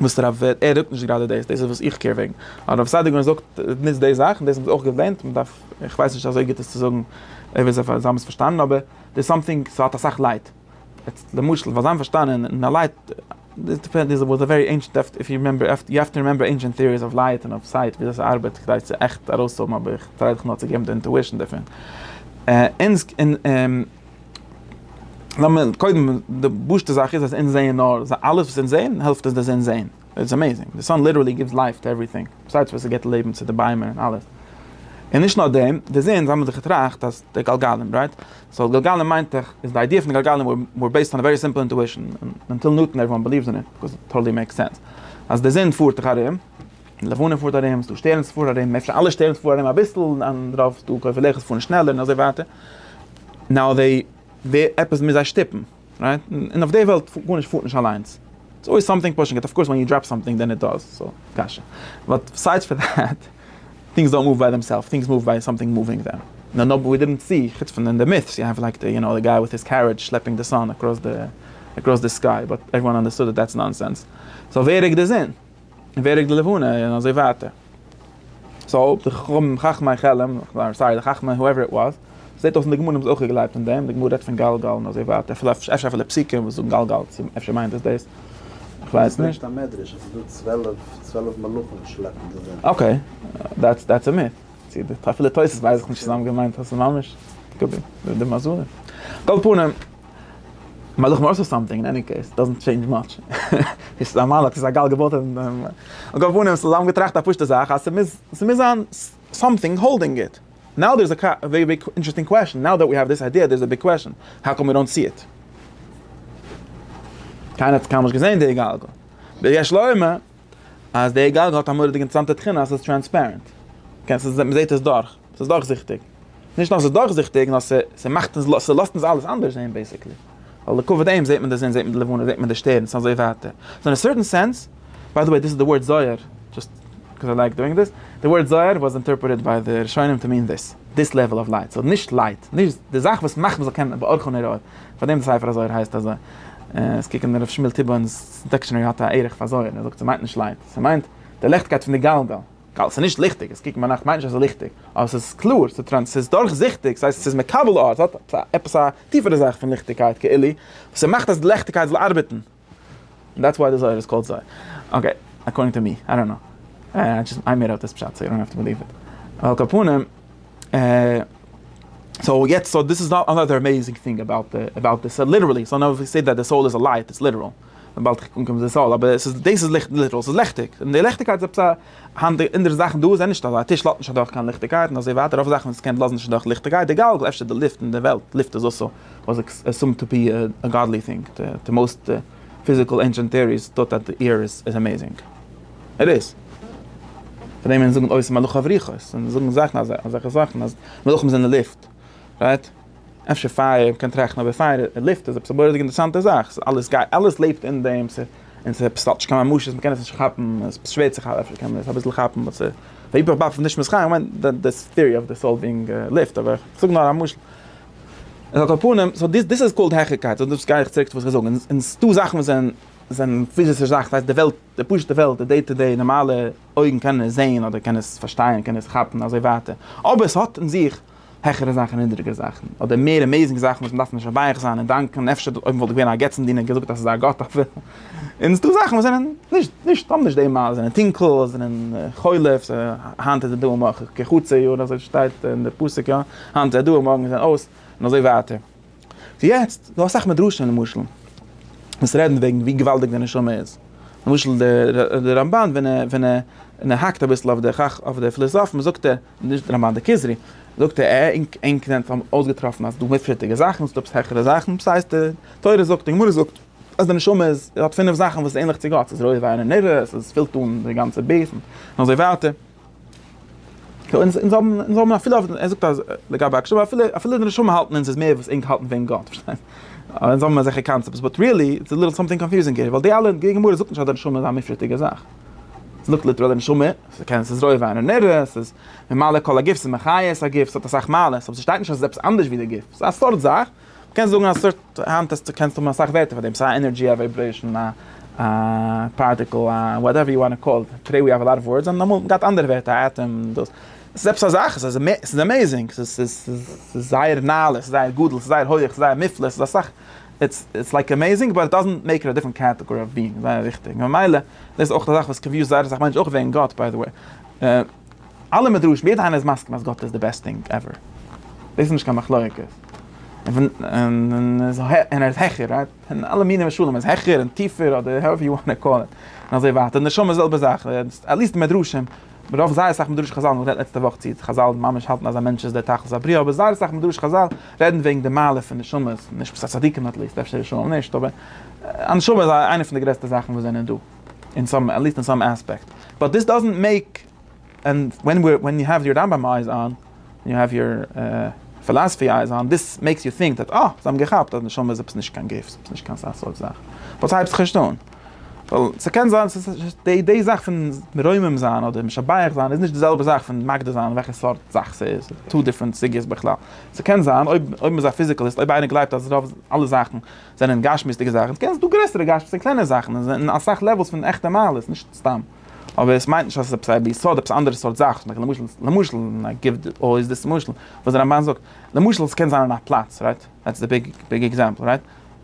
וואס הרב ווערט, ער זאגט נישט גראדע דאס, דאס איז וואס איך קער וועגן, הרב סעדיגורן זאגט נישט די זאכן, דאס האבן זיי אויך געווענדט, מען דארף, איך ווייס נישט אזוי גוט עס צו זאגן, אויב זיי האבן עס פארשטאנען, אבער דער סאמטינג איז האט אסאך לייט, יעצט למשל פאר זיין פארשטאנען און א לייט, דאס דיפענד איז וואס א ווערי ענשענט דעפט איף יו רימעמבער, יו העוו טו רימעמבער ענשענט טעאריס אוו לייט און אוו סייט וויאזוי ס'ארבעט כדי צו עכט ארויסהאבן אבער איך טריי דיך נאר צו געבן די אינטואישן דערפון. לאמיר קודם, די פשוט'ע זאך איז אז אונז זעען נאר, אלעס וואס אונז זעען העלפט אונז דאס אונז זעען, איטס עמעיזינג, די סאן ליטערלי גיווס לייף טו עווריטינג, בסידס וואס עס גיבט לעבן צו די ביימער און אלעס, און נישט נאר דעם, די זון, זיי האבן זיך געטראכט אז די גלגלים, רייט? סאו גלגלים מיינט דאך, איז די איידיע פון די גלגלים וואר בעיסד אן א ווערי סימפל אינטואישן, און אנטיל נוטאן עוועריוואן בעליווס אין איט, ביקאז איט טאטעלי מעיקס סענס, אז די זון פארט דאך ארום, לבנה פארט ארום, ס'דא שטערנס וואס פארן ארום, אפשר אלע שטערנס פארן ארום אביסל, און אנדערע ס'דא כוכבי לכת וואס פארן שנעלער און אזוי ווייטער, נאו וועי, ווער, עפעס מוז זיי שטופן, רייט? און אויף די וועלט גארנישט פארט נישט אליינס, איטס אלוועיס סאמטינג פושינג איט, אף קאורס ווען יו דראפ סאמטינג דען איט דאז, סאו, קשיא. באט ביסיידס פאר דעט, טינגס דאנט מאוו ביי דעמסעלפס, טינגס מאוו ביי סאמטינג מאווינג דעם. נאו נאו ווי דידנט סי, חוץ פון אין די מיטס יו העוו לייק די, יו נאו, די גיי וויט היז קערידזש שלעפינג די סאן אקראס די, אקראס די סקיי, באט עוועריוואן אנדערסטוד דעט דעטס נאנסענס. סאו ווער ריקט די זון? און ווער רוקט די לבנה און אזוי ווייטער. סאו די חכמי חלם, איים סארי די חכמי הועווער איט וואס, זעט אויס אין די גמרא האבן זיי אויך געגלייבט אין דעם, די גמרא רעדט פון גלגל און אזוי ווייטער, אפילו אפשר אפילו פסוקים וואס זאגן גלגל, צו אפשר מיינט עס דאס, איך ווייס נישט. עס ברענגט א מדרש אז ס'איז דא צוועלף צוועלף מלאכים שלעפן די זון. אקעי, דעטס דעטס א מיט, צו די אפילו תוס' ווייס איך נישט צו זיי האבן געמיינט אז ס'איז ממש די מזלים, על כל פנים. מלאך מארס אר סאמטינג, אין עני קעיס, דאזענט טשעינדזש מאטש, ס'איז א מלאך, ס'איז א גל געבויט אויף דעם, על כל פנים, ס'איז זיי געטראכט א פשוטע זאך אז ס'מוז, ס'מוז זיין סאמטינג האלדינג איט, נאו דער איז א ווערי ביג אינטערעסטינג קוועשאן, נאו דעט ווי העוו דיס איידיע דער איז א ביג קוועשאן, האו קאם ווי דאנט סי איט? קיינער האט קיינמאל נישט געזען די גלגל, דער יש לו אומר אז די גלגל האט א מורא'דיגע אינטערעסאנטע תכונה אז ס'איז טרענספערענט. מ'זעט עס דורך. ס'איז דורכזיכטיג. נישט נאר ס'איז דורכזיכטיג, נאר ס'מאכט אונז, ס'לאזט אונז אלעס אנדערש זעהן בעיסיקלי. ווייל לכבוד דעם זעט מען די זון, זעט מען די לבנה, זעט מען די שטערנס, און אזוי ווייטער. סאו אין א סערטען סענס, ביי די וועי דיס איז די ווארד זוהר, דזשאסט קאוז איי לייק דואינג דעס, די ווארד זוהר וואס אינטערפרעטעד ביי די ראשונים טו מין דעס, דזיס לעוועל אוו לייט, סאו נישט לייט, נישט די זאך וואס מאכט מ'זאל קענען באורכו נראה, פארדעם די ספר הזוהר הייסט אזוי. עס קוקן דער ר' שמואל טיבא'נס דיקשענערי האט א ערך פאר זויער, ער זאגט ס'מיינט נישט לייט, ס'מיינט די ליכטקייט פון די גלגל. גאלד, ס'איז נישט ליכטיג, עס קוקן ביינאכט מיינט נישט אז ס'איז ליכטיג, אבער ס'איז קלאר, ס'איז ס'איז דורכזיכטיג, ס'הייסט ס'איז מקבל אור, ס'האט עפעס א טיפערע זאך פון ליכטיגקייט כאילו, וואס ס'מאכט אז די ליכטיגקייט זאל ארבעטן. און דעטס וואי די זויער איז קאלד זויער. אקעי, אקארדינג טו מי, איי דאנט קנאו. איי דזשאסט, איי מעיד אפ דיס פשט סאו יו דאנט האוו טו בעליוו איט. על כל פנים. סאו יעצט סאו דיס איז אנאדער עמעיזינג טינג אבאוט אבאוט דיס ליטערלי סאו נאו ווי סעיד דעט די סאול איז א לייט איטס ליטערל וויבאלד איך קום צו די סאול אבער עס איז דאס איז ליכט ליטערל ס'איז ליכטיג און די ליכטיגקייט איז עפעס א היינט די אונזערע זאכן דא זענען נישט אזא א טיש לאזט נישט אדורך קיין ליכטיגקייט און אזוי ווייטער רוב זאכן וואס קען לאזן נישט אדורך ליכטיגקייט די גאלגל אפשר די לופט און די וועלט לופט איז אלסא וואס איז עסומד טו בי א גאדלי טינג די מאוסט פיזיקל ענשענט טעאריס טוט אז די עיר איז עמעיזינג. איט איז. פאר דעם וועלן זאגן אוי ס'איז מלאך אויף רוחות און זאגן זאכן אזעלכע זאכן אז מלאכים זענען לופט. רייט? אפשר פייער מ'קען טראכטן אבער פייער און לופט איז עפעס א מורא'דיג אינטערעסאנטע זאך. ס'איז אלעס גייט אלעס לעבט אין דעם ס און ס'עפעס האט נישט קיין ממשות מ'קען עס נישט כאפן ס'איז שווער צו כאפן אפשר קען מען עס אביסל כאפן באט ס'איז היפך באפן נישט משחק כ'מיין די ס טעארי אויף די סאול בינג לופט אבער כ'זאג נאר א משל על כל פנים, סאו דיס איז קאלד העכערקייט, סאו דאס גיי איך צוריק צו וואס איך זאג, און ס'איז דא זאכן וואס זענען פיזישע זאכן, ס'הייסט די וועלט, די פשוט'ע וועלט, די דעי טו דעי, נארמאלע אויגן קענען עס זעהן, אדער קענען עס פארשטייען, קענען עס כאפן, אזוי ווייטער, אבער ס'האט אין זיך העכערע זאכן און נידריגערע זאכן, אדער מער עמעיזינג זאכן וואס מ'דארף נישט מבייך זיין און דאנקען, אפשר אויב מ'וואלט געווען א געצנדינער געזאגט אז ס'איז דא א גאט אבער. און ס'איז דא זאכן וואס זענען נישט, נישט, האבן נישט די מ א, זענען טונקל, זענען חולף, היינט איז עס דא מאך איך כחצי יאר, אזוי שטייט אין די פסוק יא, היינט איז ער דא מארגן איז ער אויס, און אזוי ווייטער. סאו יעצט, דא אסאך מדרשים למשל, וואס רעדן וועגן ווי געוואלדיג די נשמה איז. למשל די רמבן ווען ער, ווען ער, ווען ער האקט אביסל אויף די חכ אויף די פליזאפן זאגט ער, נישט רמבן די כוזרי, זאגט ער עה אינק אינק זענט אויסגעטראפן אז דא מופת'דיגע זאכן, ס'דא עפעס העכערע זאכן, וואס הייסט די תורה זאגט, די גמרא זאגט. אז די נשמה איז האט פינף זאכן וואס איז ענליך צו גאט, ס'איז רויט וויין און נירות, ס'איז פילט אן די גאנצע בעיס און אזוי ווייטער. אונז אונז האבן אונז האבן אפילו אויף ער זאגט אז לגבי הקשבה אפילו אפילו די נשמה האלטן אונז איז מער וואס ענק האלטן וועגן גאט, פארשטייסט? אונז האבן אזעלכע קאנצעפטס, באט ריעלי איטס ליטעל סאמטינג קאנפיוזינג העיר, ווייל די אלע די גמרא זאגט נישט אז די נשמה איז א מופשט'דיגע זאך, ס'זאגט ליטעראל די נשמה, ס'קען ס'איז רויט וויין און נירות, ס'איז ממלא כל הגוף, ס'איז מחיה את הגוף, ס'האט אסאך מעלות, אבער ס'שטייט נישט אז ס'איז עפעס אנדערש ווי די גוף, ס'איז א סארט זאך. מ'קען זאגן א סארט, היינט האסטו, קענסטו האבן אסאך ווערטער פאר דעם, ס'איז א ענערדזשי, א ווייברעישאן, א פארטיקל, א וואטעווער יו וואנט קאל איט, טודעי ווי האוו א לאט אוו ווארדס, און אמאל געהאט אנדערע ווערטער, א עטאם, דאס, עס איז עפעס א זאך, עס איז עמעיזינג, ס'איז זייער נעלה, ס'איז זייער גדול, ס'איז זייער הויעך, ס'איז זייער מופלא, ס'איז אסאך, איטס איטס לייק עמעיזינג באט איט דאזענט מעיק איט א דיפרענט קעטעגארי אוו ביאינג, זייער וויכטיג, ממילא דאס איז אויך אזאך וואס קאנפיוזט זייער אסאך מענטשן, אויך וועגן גאט ביי די וועי. אלע מדרשים, יעדער איינער איז מסכים אז גאט איז די בעסט טינג עווער, דאס איז נישט קיין מחלוקת, און ער איז העכער, רייט? און אלע מיני משלים, ער איז העכער און טיפער אדער האועווער יו וואנט טו קאל איט, און אזוי ווייטער, נשמה זעלבע זאך, עטליעסט מדרשים, רוב זייער אסאך מדרשי חזל, מען רעדט לעצטע וואך צי חזל ממש האלטן אז א מענטש איז דער תכלית הבריאה, אבער זייער אסאך מדרשי חזל רעדן וועגן די מעלה פון נשמות, נישט צדיקים עטליעסט, אפשר רשעים נישט, אבער א נשמה איז איינע פון די גרעסטע זאכן וואס זענען דא. אין סאם עט ליסט אין סאם עספעקט באט דיס דאזענט מעיק ענד ווען וויר ווען יו העוו יור רמב ם אייז אן און יו העוו יור פילאסעפי אייז אן דיס מעיקס יו טינק דעט אה זיי האבן געכאפט אז נשמה איז עפעס נישט קיין גוף עפעס נישט קיין סאך סארט זאך באט סהייבט זיך נישט אן ווייל ס'קען זיין ס'איז די די זאך פון מרומם זיין אדער משבח זיין איז נישט די זעלבע זאך פון מגדיר זיין וועלכע סארט זאך ס'איז טא דיפרענט סוגיות בכלל ס'קען זיין אויב אויב מ'איז א פיזיקעליסט אויב איינער גלייבט אז רוב אלע זאכן. זענען גשמיות'דיגע זאכן, דו קענסט דא גרעסערע גשמיות אין קלענער זאכן, און זענען אסאך לעוועלס פון עכטע מעלות, נישט סתם. אבער עס מיינט נישט אז עס איז עפעס א ביסוד, עפעס א אנדערע סארט זאך, למשל, למשל, למשל, און איי גיוו אלוועיס דיס משל, וואס דער רמבן זאגט, למשל, עס קען זיין אין א פלאץ, רייט, דעטס די ביג, ביג עקזעמפל, רייט,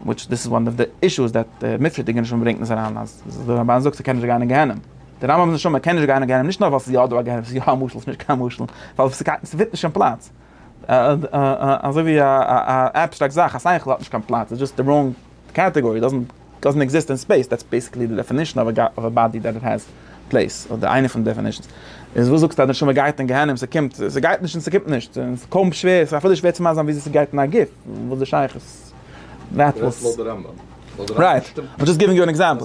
וויטש דיס איז וואן אוו די אישוס דעט דער מופשט'דיגער נשמה ברענגט אונז אריין, אז דער רמבן זאגט ס'קען נישט גיין אין גיהנום. דער רמבם'ס נשמה קען נישט גיין אין גיהנום נישט נאר ווייל ס'איז יא דא א גיהנום, ס'איז יא א משל, ס'איז נישט קיין משל, ווייל ס'פיט נישט אין פלאץ. אזוי ווי א עבסטראקט זאך, א שכל האט נישט קיין פלאץ, איז דזשאסט א ראנג קעטעגארי, דאזענט דאזענט עקזיסט אין ספעיס, דעטס בעסיקלי די דעפענישן אוו א באדי דעט העז פלעיס, אדער איינע פון די דעפענישנס. איז וואס זאגסטו אז די נשמה גייט אין גיהנום, ס'קומט, ס'גייט נישט און ס'קומט נישט, ס'איז קוים שווער, ס'איז אפילו שווער צו מאסן וויאזוי ס'גייט אין א גוף, וואס איז די שייכות? רייט, וואס? רייט, איים דזשאסט גיווינג יו אן עקזעמפל.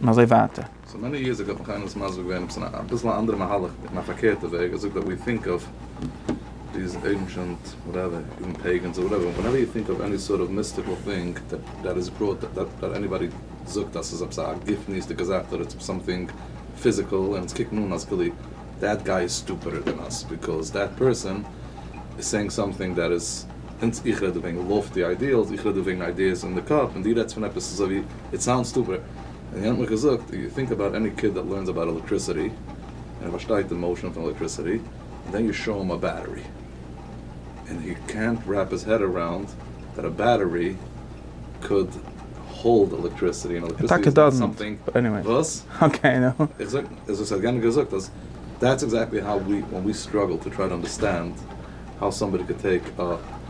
און אזוי ווייטער. סאו מעני יערס אגאו האט מיך איינער דאס מסביר געווען עפעס אין א ביסל א אנדערע מהלך אין א פארקערטע וועג ער האט געזאגט דעט ווי טינק אוו דיז ענשענט וואטעווער איווען פעיגענס אדער וואטעווער ווענעווער יו טינק אוו עני סארט אוו מיסטיקעל טינג דעט איז פראט דעט עניבאדי זאגט אז ס'איז עפעס א גופניות'דיגע זאך אדער איטס סאמטינג פיזיקעל און אונז קוקן אן אז כאילו דעט גיי איז סטופידער דען אס ביקאוז דעט פערסאן איז סעינג סאמטינג דעט איז אונז איך רעד דא וועגן לאפטי איידיעלס איך רעד דא וועגן איידיעס אין די קאפ און דו רעדסט פון עפעס אזוי ווי איט סאונדס סטופיד, און יענער האט מיך געזאגט, יו טינק אבאוט עני קיד דעט לערנס אבאוט עלעקטריסיטי, און ער פארשטייט די מאושען פון עלעקטריסיטי, און דען יו שאו אים א בעטערי, און הי קענט רעפ היז העד אראונד דעט א בעטערי קאוד האלד עלעקטריסיטי, און עלעקטריסיטי איז נאט סאמטינג וואס? איך זאג, איז וואס האט יענער געזאגט, אז דעטס עקזעקטלי האו ווי, ווען ווי סטראגל טו טריי טו אנדערסטענד האו סאמבאדי קען טעיק א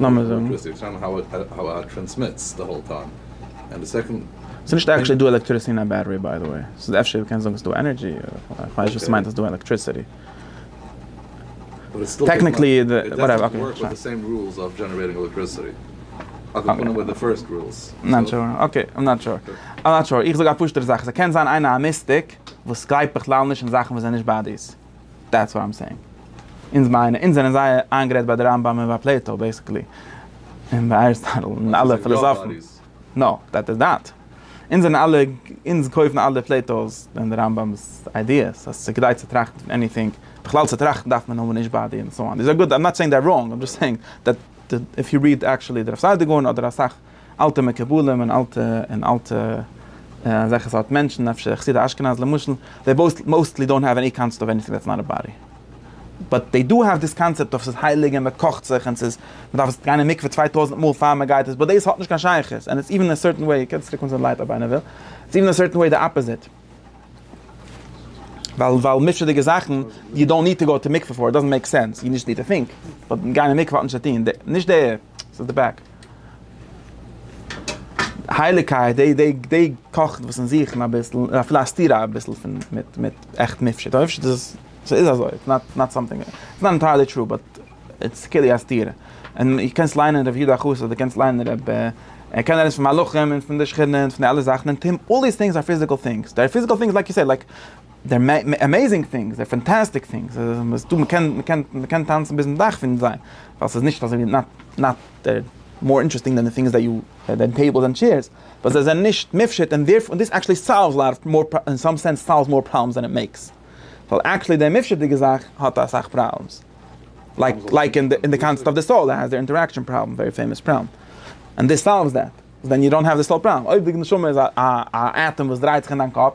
לאמיר זאגן. ס'נישט עקטשעלי דא עלעקטריסי אין א בעטערי ביי די וועי, ס'איז אפשר מ'קען זאגן ס'איז דא ענערדזשי, כ'ווייס נישט וואס ס'מיינט אז ס'איז דא עלעקטריסיטי. טעקניקלי איז די, וואטעווער, אקעי. נאט שור, אקעי, איים נאט שור. איים נאט שור. איך זאג א פשוטערע זאך, ס'קען זיין איינער א מיסטיק וואס גלייבט בכלל נישט אין זאכן וואס זענען נישט באדיס. דעטס וואט איים סעינג. אונז מיינען, אונז זענען זייער איינגערעדט ביי די רמב ם און ביי פלעיטאו בעיסיקלי. און ביי אריסטאטל און אלע פילאזאפן. נא, דעט איז דעט. אונז זענען אלע, אונז קויפן אלע פלעיטאו'ס און די רמב ם'ס איידיעס אז ס'איז כדאי צו טראכטן פון עניטינג. בכלל צו טראכטן דארף מען האבן נישט באדי און סאו אן. זיי זענען גוט, איים נאט סעינג זיי אר ראנג, איים דזשאסט סעינג דעט איף יו ריעד עקשעלי דער אפסיידער גאון אדער אסאך. אלטע מקובלים און אלטע און אלטע אזעלכע סארט מענטשן אפשר חסידי אשכנז למשל, זיי מאוסטלי דאונט העוו עני קאנצעפט אוו עניטינג דעטס נאט א באדי, באט זיי דא העוו דיס קאנצעפט אוו ס'איז הייליג און מ'קאכט זיך און ס'איז מ'דארף עס גיין אין מקווה צוויי טויזנט מאל פאר מ'גייט עס באט דאס האט נישט קיין שייכות און איטס איווען אין א סערטען וועי, איר קענט צוריק קומען צו די לייט אויב איינער וויל, איטס איווען אין א סערטען וועי די אפאזיט. ווייל ווייל מופשט'דיגע זאכן, יו דאנט ניד טו גאו טו מקווה פאר איט, דאזענט מעיק סענס, יו דזשאסט ניד טו טינק, באט גיין אין מקווה האט נישט צו טון, נישט די, ס'איז די בעק. הייליגקייט, די די די קאכט וואס אין זיך און אביסל, אפילו א סתירה אביסל פון מיט מיט עכט מופשט, מופשט איז, ס'איז אזוי, איטס נאט סאמטינג, איטס נאט ענטייערלי טרו באט. איטס כאילו א סתירה. און דו קענסט ליינען ר' יודא חוסט אדער דו קענסט ליינען רב ער קען רעדן פון מלאכים און פון די שכינה און פון די אלע זאכן און טים אלל דיס טינגס אר פיזיקעל טינגס דער פיזיקעל טינגס לייק יו סעיד לייק דער עמעיזינג טינגס דער פאנטאסטיק טינגס איז דא מ'קען מ'קען מ'קען טאנצן ביזן דאך פון זיי ווייל ס'איז נישט אזוי ווי נאט דער מאר אינטערעסטינג דען די טינגס דעט יו דען טעיבלס ענד טשעירס ווייל זיי זענען נישט מופשט און דערפ און דיס עקטשעלי סאלווס לאט אוו מאר אין סאם סענס סאלווס מאר פראבלעמס דען איט מעיקס ווייל עקטשעלי די מופשט'דיגע זאך האט אסאך פראבלעמס. לייק לייק אין די קאנסעפט אוו די סאול איז די אינטעראקשען פראבלעם ווערי פעימאס פראבלעם און דיס סאלווס דעט ווען יו דאנט האוו די סאול פראבלעם אויב די נשמה איז א עטאם וואס דרייט זיך אין דיין קאפ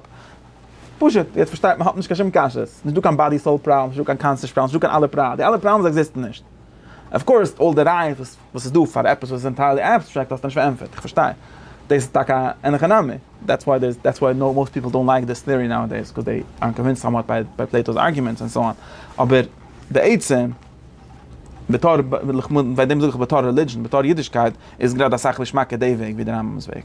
פשוט יעצט פארשטייט מען האט נישט קיין שום קשיות נישט דא קיין באדי סאול פראבלעם נישט דא קיין קאנסעש פראבלעם נישט דא קיין אלע פראבלעם די אלע פראבלעמס עקזיסטן נישט אויף קאורס אלל די רייעס וואס וואס איז דא פאר עפעס וואס איז ענטיירלי עבסטרעקט האסטו נישט פארענטפערט, איך פארשטיי דאס איז טאקע אן הכי נמי, דעטס וואי דעיס דעטס וואי מאוסט פיפל דאונט לייק דיס טעארי נאו עדעיס קאוז דעי ארנט קאנווינסד סאמוואט ביי ביי פלעיטאוס ארגומענטס ענד סאו אן, אבער די עצם בתור, ביי דעם זאג איך בתור רעלידזשען, בתור אידישקייט, איז גראדע אסאך געשמאקער די וועג ווי די רמב ם'ס וועג.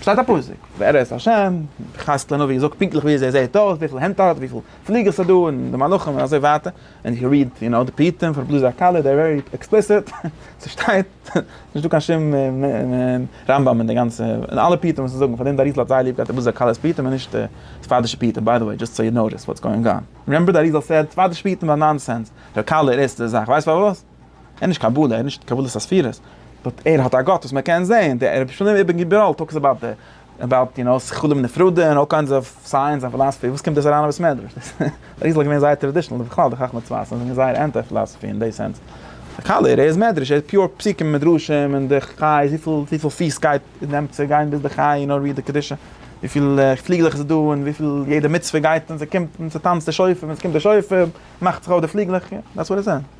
שטייט א פסוק, ווער איז השם, חז ל נביא זאגט פונקטליך וויאזוי ער זעט אויס, וויפיל הענט ער האט, וויפיל פליגער ס'איז דא, און די מלאכים און אזוי ווייטער, און איך ריעד יו נאו די פרטים פון רבי לוזי הקלה, דער ווערי עקספליסיט, ס'שטייט, ס'נישט דא קיין שום רמב ם אין די גאנצע, אין אלע פרטים וואס זיי זאגן, פארדעם די אריז ל האט זייער ליב געהאט רבי לוזי הקלה'ס פרטים און נישט די ספרדישע פרטים, ביי די וועי דזשאסט סאו יו נאו דעס וואטס גאוינג אן, רימעמבער די אריז ל סעד ספרדישע פרטים זענען נאנסענס, ר' קלה'ער עסט די זאך, ווייסט פארוואס? ער איז נישט קבלה, ער איז נישט קבלת הספירות, באט ער האט א גאט וואס מען קען זעהן, די ער האט געשריבן איבער גיבראלט טאלקס אבאוט די אבאוט יו נאו שכלים נפרדים און אלל קיינדס אוו סייענס און פילאספי, וואס קומט דאס אריין אין בית מדרש? דאס איז אריז ל געווען זייער טראדישענעל און בכלל די חכמי צפת זענען געווען זייער ענטי פילאספי אין די סענס, א קאליר, ער איז מדרש, ער איז פיור פסוקים און מדרשים און די חי איז וויפיל וויפיל פיס גייט נעמט צו גיין ביז די חי יו נאו ריעד די קדושה וויפיל פליגלעך איז דא און וויפיל יעדע מצוה גייט און ס'קומט און ס'טאנצט די שופר ווען ס'קומט די שופר מאכט זיך אויף די פליגלעך, דעטס וואט איט סענד.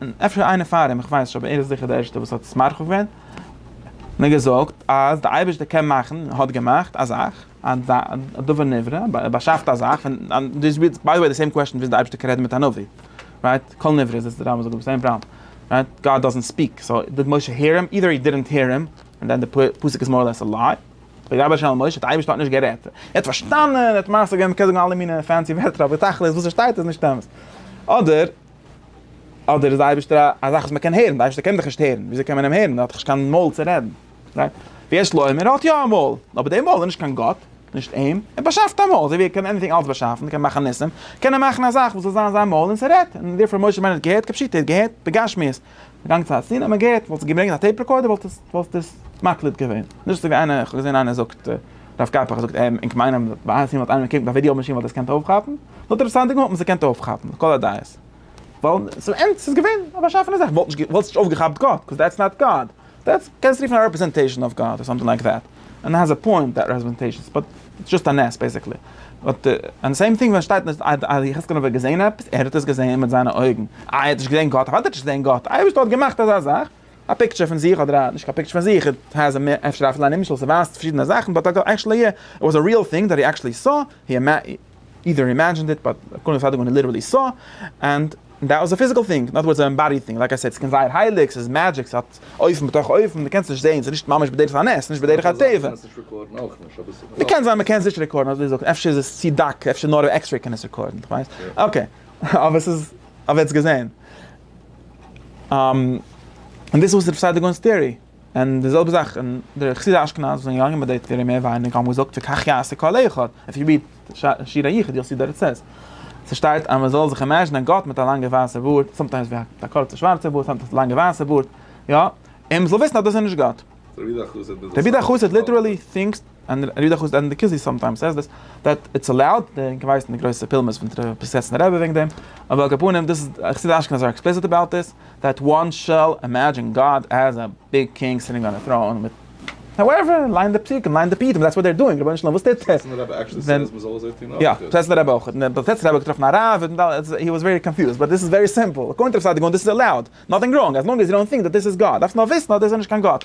און אפשר איינער פאר אים, איך ווייס נישט אבער ער איז זיכער דער ערשטער וואס האט עס מרחיב געווען, און האט געזאגט אז דער אייבערשטער קען מאכן, האט געמאכט, א זאך, א דבר נברא, ער באשאפט א זאך, און דאס איז ביי די וועי די סעים קוועשן וויאזוי דער אייבערשטער קען רעדן מיט א נביא, רייט? כל נברא איז עס דער רמב ם זאגט דאס אין פרמ, רייט? גאד דאזענט ספיעק, סאו דיד משה העיר הים? אידער הי דידענט העיר הים, און דען די פסוק איז מאר לעס א ליי, וידבר ה' אל משה, דער אייבערשטער האט נישט גערעדט, ער האט פארשטאנען, ער האט מעשה געווען, מ'קען זאגן אלע מיני פענסי ווערטער אבער תכלית וואס ער שטייט איז נישט אמת, אדער. אדער איז די אייבערשטער א א זאך וואס מען קען הערן, די אייבערשטער קען דיך נישט הערן, וויאזוי קען מען אים הערן, ער האט דאך נישט קיין מויל צו רעדן, רייט? ויש לו עמער האט יא א מויל, אבער די מויל איז נישט קיין גאט, נישט אים, ער באשאפט א מויל, אזוי ווי ער קען עניטינג אלץ באשאפן, קען מאכן ניסים, קען ער מאכן א זאך וואס זאל זיין זיין מויל און ס'רעדט, און דערפאר משה רבינו האט געהערט, כפשוטו ער האט געהערט בגשמיות, געגאנגען צו א ציון האט מען געהערט, וואלסטו געברענגט א טעיפ רעקארדער וואלט עס וואלסט עס מקליט געווען, נישט אזוי ווי איינער, איך האב געזען איינער זאגט, הרב קאפח זאגט, און כ'מיין אז ביי א ציון וואלט איינער געקוקט ביי ווידיאו מאשין וואלט עס געקענט אויפכאפן. האט רבי סעדיגורא האט מען זיי געקענט אויפכאפן לכל הדעות. ווייל צום ענד ס'איז געווען א באשאפענע זאך. וואלט נישט וואלסט נישט אויפגעכאפט גאט, קאוז דעטס נאט גאד. דעטס קענסט רופן א רעפרעזענטעישן אוו גאד, אדער סאמטינג לייק דעט. און ער האז א פוינט דעט רעפרעזענטעישנס באט איטס דזשאסט א נס בעיסיקלי. באט און די סעים טינג ווען שטייט אז יחזקאל הנביא האט געזעהן עפעס, ער האט עס געזעהן מיט זיינע אויגן. איי ער האט נישט געזעהן גאט, אוודאי האט ער נישט געזעהן גאט. אייבערשטער האט געמאכט אזא זאך, א פיקטשער פון זיך אדער א נישט קיין פיקטשער פון זיך, איט העז א מער אפשר אפילו א נמשל ס'ווייזט פארשידענע זאכן באט עקשעלי איט וואס א ריעל טינג דעט הי עקשעלי סא. אידער הי אימעדזשינד איט באט קאלינג א סיידאג וואן הי ליטערלי סא ענד דעט וואס א פיזיקעל טינג נאט וואטס א עמבאדיד טינג לייק איי סעיד ס'קען זייער הייליג ס'איז מעדזשיק ס'האט אופן בתוך אופן מ'קענסט נישט זעהן ס'איז נישט ממש בדרך הנס ס'איז נישט בדרך הטבע מ'קען זיין מ'קען עס נישט רעקארדן אזוי זאגט אפשר איז עס צי דק אפשר נאר א עקסרעי קען עס רעקארדן כ'ווייס אקעי אבער ס'איז אבער עטס געזעהן און דאס איז וואס איז ר' סעדיגונ'ס טעארי. און די זעלבע זאך און די חסידי אשכנז וואס זענען געגאנגען ביי די תפארת מער ווייניגער האבן געזאגט וכך יעשה כל אחד, איף יו ריעד שיר היחיד יו וויל סי די רעצעס ס'שטייט אז מ'זאל זיך אימעזשינען גאט מיט א לאנגע ווייסע בארד, סאמטיימס ווי א קורצע שווארצע בארד סאמטיימס א לאנגע ווייסע בארד, יא, און מ'זאל וויסן אז דאס איז נישט גאט. רבי דער חסיד ליטערלי טינקס און ער גיט דאך אויס ענדע כוזרי סאמטיימס סעיס דעס דעט איטס אלאוד, און כווייס די גרויסע פולמוס פון דער פריסעצנער רבי וועגן דעם, אבער על כל פנים דאס איז חסידי אשכנז אר עקספליסיט אבאוט דיס, דעט וואן שעל אימעדזשין גאד עז א ביג קינג סיטינג אן א טראון מיט האועווער, ליין די פסוקים, ליין די פיוטים, דעטס וואט דער דואינג, רבונו של עולם וואס טוט ער? פריסעצנער רבי עקשלי סעיס מ'זאל אזוי טון אויך? יא, פריסעצנער רבי אויך, און פריסעצנער רבי האט געטראפן א רב, און היי וואס ווערי קאנפיוזד, באט דאס איז ווערי סימפל, אקארדינג טו רב סעדיגורן דאס איז אלאוד, נאטינג ראנג, אז לאנג עז יו דאנט טינק דעט דאס איז גאט, דארפסט נאר וויסן אז דאס איז נישט קיין גאט.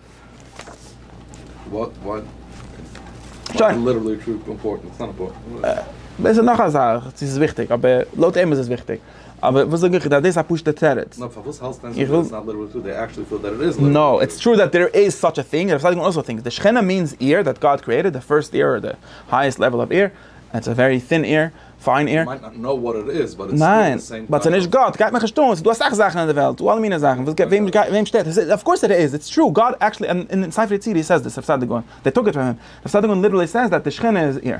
דאס איז נאך א זאך צו ס'איז וויכטיג, אבער לויט אים איז עס וויכטיג, אבער וואס זאג איך דיר אז דאס איז א פשוטע תירוץ. נאר פארוואס האלסטו דען ס'איז נישט ליטערלי טרו? דעי עקטשעלי פיל דעט ער איז ליטערלי טרו. נאו, איטס טרו דעט דער איז סאטש א טינג, דער סאטש אויך טינגס, די שכינה מיענס עיר דעט גאד קריעטעד, די פירסט עיר, אדער די הייעסט לעוועל אוו עיר, און איטס א ווערי טין עיר, פיין איר מיינט נאט נאו וואט איט איז באט איטס סטיל די סעים קאנצעפט. ניין באט ס'נישט גאט גייט מיך נישט אן ס'דא אסאך זאכן אין די וועלט ס'דא אלע מיני זאכן וואס וועם שטערט עס אוו קאורס איט איז איטס טרו גאט עקטשעלי אין ספר יצירה הי סעיז דיס רב סעדיג גאון דעי טאק איט פאר הים רב סעדיג גאון ליטערלי סעיז דעט די שכינה איז איר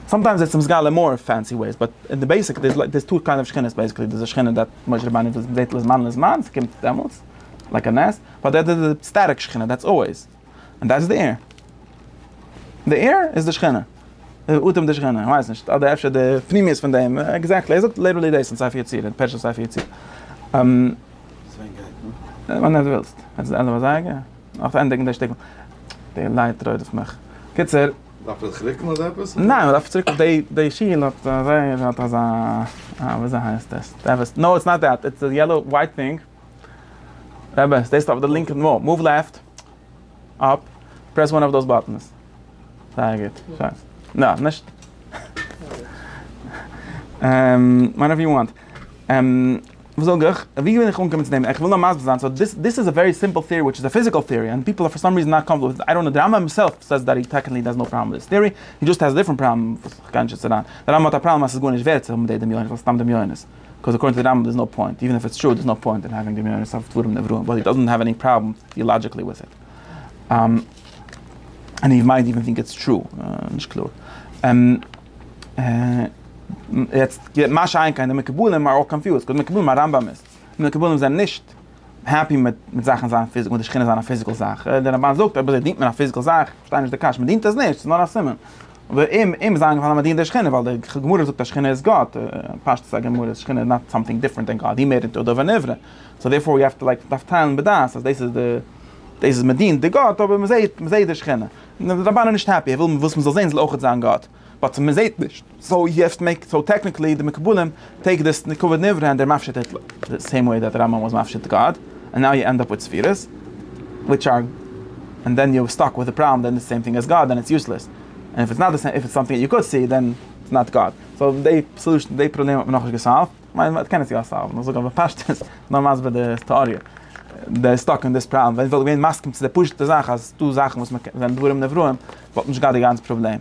סאמטיימס איטס מסגלה אין מאר פענסי וועיס באט אין די בעיסיק דעיס דעיס טו קיינד אוו שכינות בעיסיקלי דעיס א שכינה דעט משה רבינו זעהט לזמן לזמן ס'קומט דעמאלטס לייק א נס באט דעט איז די סטעטיק שכינה דעטס אלוועיס. און דאס איז די עיר. די עיר איז די שכינה. די אטעם די שכינה, איך ווייס נישט, אדער אפשר די פנימיות פון דעם, עקזעקטלי, ער זאגט ליטערלי דאס אין ספר יצירה, פרשת ספר יצירה. ווען דו ווילסט. יעצט די ענדע פון זייגער? נאך צו ענדיגן די שטיקל. די לייט רודפט מיך. קיצור. דארף מען זיך רוקן אדער עפעס? ניין, מען דארף צוריק אויף די שיל האט אזוי, האט אזא, וויאזוי הייסט עס? נאו איטס נאט דעט, איטס די יעלאו ווייט טינג. אמת, דאס אויף די לינקע מאל, מאוו לעפט, אפ, פרעס וואן אויף דאס באטענס. זייער גוט, שיין. נא, נישט. אהמ, וואנעווער יו וואנט. אהמ, וואס זאג איך? ווי בין איך אנגעקומען צו דעם? איך וויל נאר מסביר זיין, סאו דיס דיס איז א ווערי סימפל טעארי וויטש איז א פיזיקעל טעארי אנד פיפל אר פאר סאם ריזען נאט קאמפארטעבל וויט איט, איי דאנט נאו, די רמב ם הימסעלף סעיס דעט הי טעקניקלי דאזנט האוו פראבלעם וויט דיס טעארי, הי דזשאסט העז א דיפרענט פראבלעם וואס איך גיי נישט יעצט אריין. די רמב ם האט א פראבלעם אז ס'איז גארנישט ווערט צו האבן די דמיונות ווייל סתם דמיונות. קאוז אקארדינג טו די רמב ם דער איז נאו פוינט, איווען איף איטס טרו, דער איז נאו פוינט אין האווינג די מנהרות אויף דברים נבראו, באט הי דאזענט האוו עני פראבלעם טעאלאגיקלי וויט איט. און הי מייט איווען טינק איטס טרו, נישט קלאר. יעצט מה שאין כן די מקובלים אר אלל קאנפיוזד, קאוז די מקובלים א רמב ם איז, די מקובלים זענען נישט העפי מיט זאכן זיין פיזיקל, מיט די שכינות זיין א פיזיקל זאך, דער רמב ם זאגט אז אויב דינט מען א פיזיקל זאך, כ'פארשטיי נישט די קשיא, מ'דינט עס נישט, ס'איז נאר א סימן. ואם אם זיין געווארן אז מ'דינט די שכינה ווייל די גמרא זאגט אז שכינה איז גאט, פשטות א גמרא איז שכינה איז נאט סאמטינג דיפרענט דען גאט, היא מ ד דבר נברא, סאו דערפאר יו העוו טו לייק מ'דארף טיילן בדעת אז דאס איז די דאס איז מ'דינט די גאט אבער מ'זעהט מ'זעהט די שכינה. און די רבן איז נישט העפי, ער וויל וואס מ'זאל זעהן זאל אויכעט זיין גאט. באט מען זעהט נישט, סאו יו העוו טו מעיק, סאו טעקניקלי די מקובלים טעיק דיס ככבוד נברא ענד דער מפשט איט די סעים וועי דעט רמב ם וואס מפשט גאד ענד נאו יו ענד אפ וויט ספירות וויטש אר ענד דען יו סטאק וויט די פראבלעם דען די סעים טינג עז גאד דען איטס יוסלעס ענד איף איטס נאט די סעים איף איטס סאמטינג יו קאד סי דען איטס נאט גאד סאו דעי סאלושען דעי פראבלעם האט מען נאכנישט געסאלווט כ'מיין מען קען עס יא סאלוון איך זאג אבער פשטות נאר מסביר די טעאריע דער איז סטאק אין דיס פראבלעם ווען איך וואלט געווען מסכים צו די פשוטע זאך אז ס'דא זאכן וואס מ'קען זענען דברים נבראים. וואלט נישט געהאט די גאנצע פראבלעם,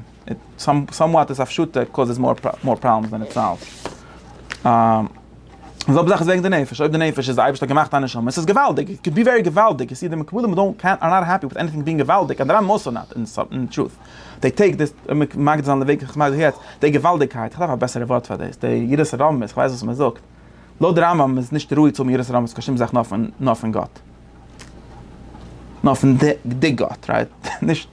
סאמוואט איז הפשטה קאוזעס מאר פראבלעמס דען איט סאלווס. די זעלבע זאך איז וועגן די נפש, אויב די נפש איז די אייבערשטער האט געמאכט א נשמה, עס איז געוואלדיג, איט קען בי ווערי געוואלדיג, און סידי מקובלים אר דאונט קעיר אר נאט העפי וויט עניטינג בינג געוואלדיג, אדער א מאס אר נאט, אין טרוט די טעיק דיס, מגדיר זיין די וועג איך מגדיר זיך יעצט, די געוואלדיגקייט, איך דארף א בעסערע ווארט פאר דאס, די יראת הרבים, איך ווייס וואס מען זאגט. לויט די רמב ם איז נישט ראוי צו האבן יראת הרמות קיין שום זאך נאר פון נאר פון גאט. נאר פון די די גאט רייט. נישט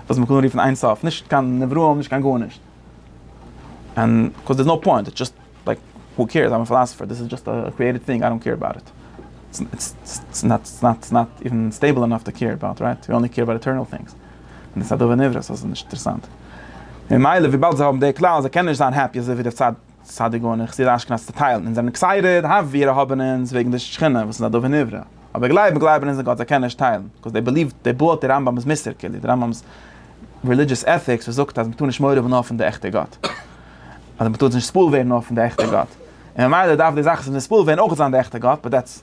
וואס מען קען רופן אין סוף. נישט קיין נבראים נישט קיין גארנישט. און קאוז דערס נאו פוינט. איטס דזשאסט לייק הו קעירס איי'ם א פילאסעפער דאס איז דזשאסט א קריעטעד טינג איי דאנט קעיר אבאוט איט. איטס נאט איווען סטעיבל ענאף טו קעיר אבאוט רייט. יו אנלי קעיר אבאוט עטערנעל טינגס. און דאס איז א דבר נברא סאו ס'איז נישט אינטערעסאנט. ממילא וויבאלד זיי האבן די כלל אז זיי קענען נישט זיין העפי אזויווי די צד צדיק גאון און חסיד אשכנז צעטיילן אונז זענען עקסייטעד האף ווי ער האבען אונז וועגן די שכינה וואס איז א דבר נברא אבער גלייבען גלייבען אונז אין גאט זיי קענען נישט טיילן בקאז דעי בעליוו דעי בועלט די רמב ם'ס מוסר כאילו די רמב ם'ס רעלידזשעס עטיקס וואס זאגט אז מ'טאר נישט מורא האבען נאר פון די עכטע גאט אדער מ'טאר זיך נישט ספול ווערן נאר פון די עכטע גאט און ממילא דארף די זאך וואס איז נספול ווערן אויך זיין די עכטע גאט באט דעטס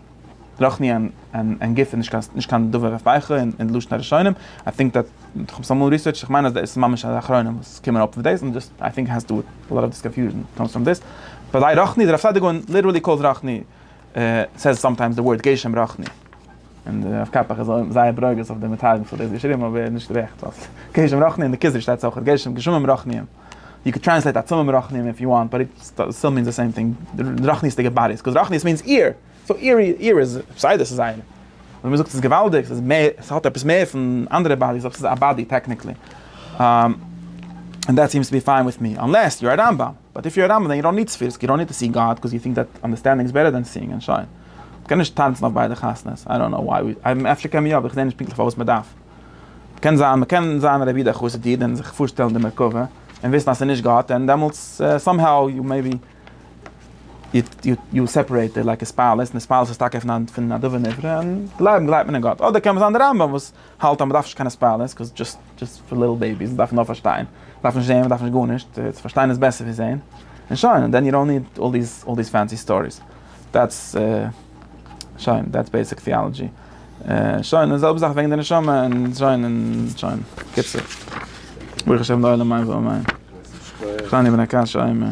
רח מ און גופא איז נישט קיין דבר רפ א אין די לשון הראשונים, איי טינק דעט, איך האב עס אמאל ריסערטשט, איך מיין אז דאס איז ממש א אחרונים וואס קומען אפ מיט דאס, און דאס איי טינק העז טו דו וויט אלאט אוו קאנפיוזשען קאמס פראם דאס, ביי די רח מ די רב סעדיגורא און ליטערלי קאלס רח מ סעיס סאמטיימס די ווארד גשם רח מ, און די רב קאפח איז זייער ברוגז אויף די מתרגמים וואס האבן דאס געשריבן אבער נישט גערעכט ווייל גשם רח מ און די כוזרי שטייט אויך גשם גשמים רח מ. יו קען טרענסלעיט עצמים מרחניים איף יו וואנט באט איט סטיל מיענס די סעים טינג, רחניות'דיגע באדיס, קאוז רחניות מיענס איר, סאו איר איר איז פסיידא ס'איז זייער. ווען מ'זאגט ס'איז געוואלדיג ס'איז מער ס'האט עפעס מער פון אנדערע באדיס אבער ס'איז א באדי טעקניקלי. ענד דעט סיעמס טו בי פיין וויט מי אנלעס יו אר א רמב ם. באט איף יו אר א רמב ם דען יו דאנט ניד ספירס, יו דאנט ניד טו סי גאד קאוז יו טינק דעט אנדערסטענדינג איז בעטער דען סיאינג און שוין. מ'קען נישט טאנצן אויף ביידע חתונות, איי דאנט קנאו וואי, אפשר קען מען יא אבער איך זעה נישט פונקטליך פארוואס מ'דארף. קען זיין מען קען זיין רבי דער חסיד איד און זיך פארשטעלן די מרכבה און וויסן אז ס'איז נישט גאט און דעמאלטס סאם האו יו מעיבי יו סעפערעיטעד לייקע ספאלעס און ספאלעס איז טאקע פון א דבר נברא און גלייבן גלייבט מען אין גאט אדער קען מען זיין די רמב ם וואס האלט אז מ'דארף נישט קיינע ספאלעס קאוז דזשאסט דזשאסט פאר ליטל בעיביס מ'דארף נאר פארשטיין מ'דארף נישט זעהן מ'דארף נישט גארנישט צו פארשטיין איז בעסער ווי זעהן און שוין און דען יו דאנט ניד אלל דיס אלל דיס פענסי סטאריס דעטס. שוין, דעטס בעיסיק טיאלעדזשי. שוין, די זעלבע זאך וועגן די נשמה און שוין און שוין. קיצור. ברוך השם די עולם מיין ועם מיין. קליינע בני קש עומר.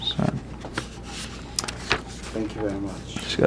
שוין. שכוח.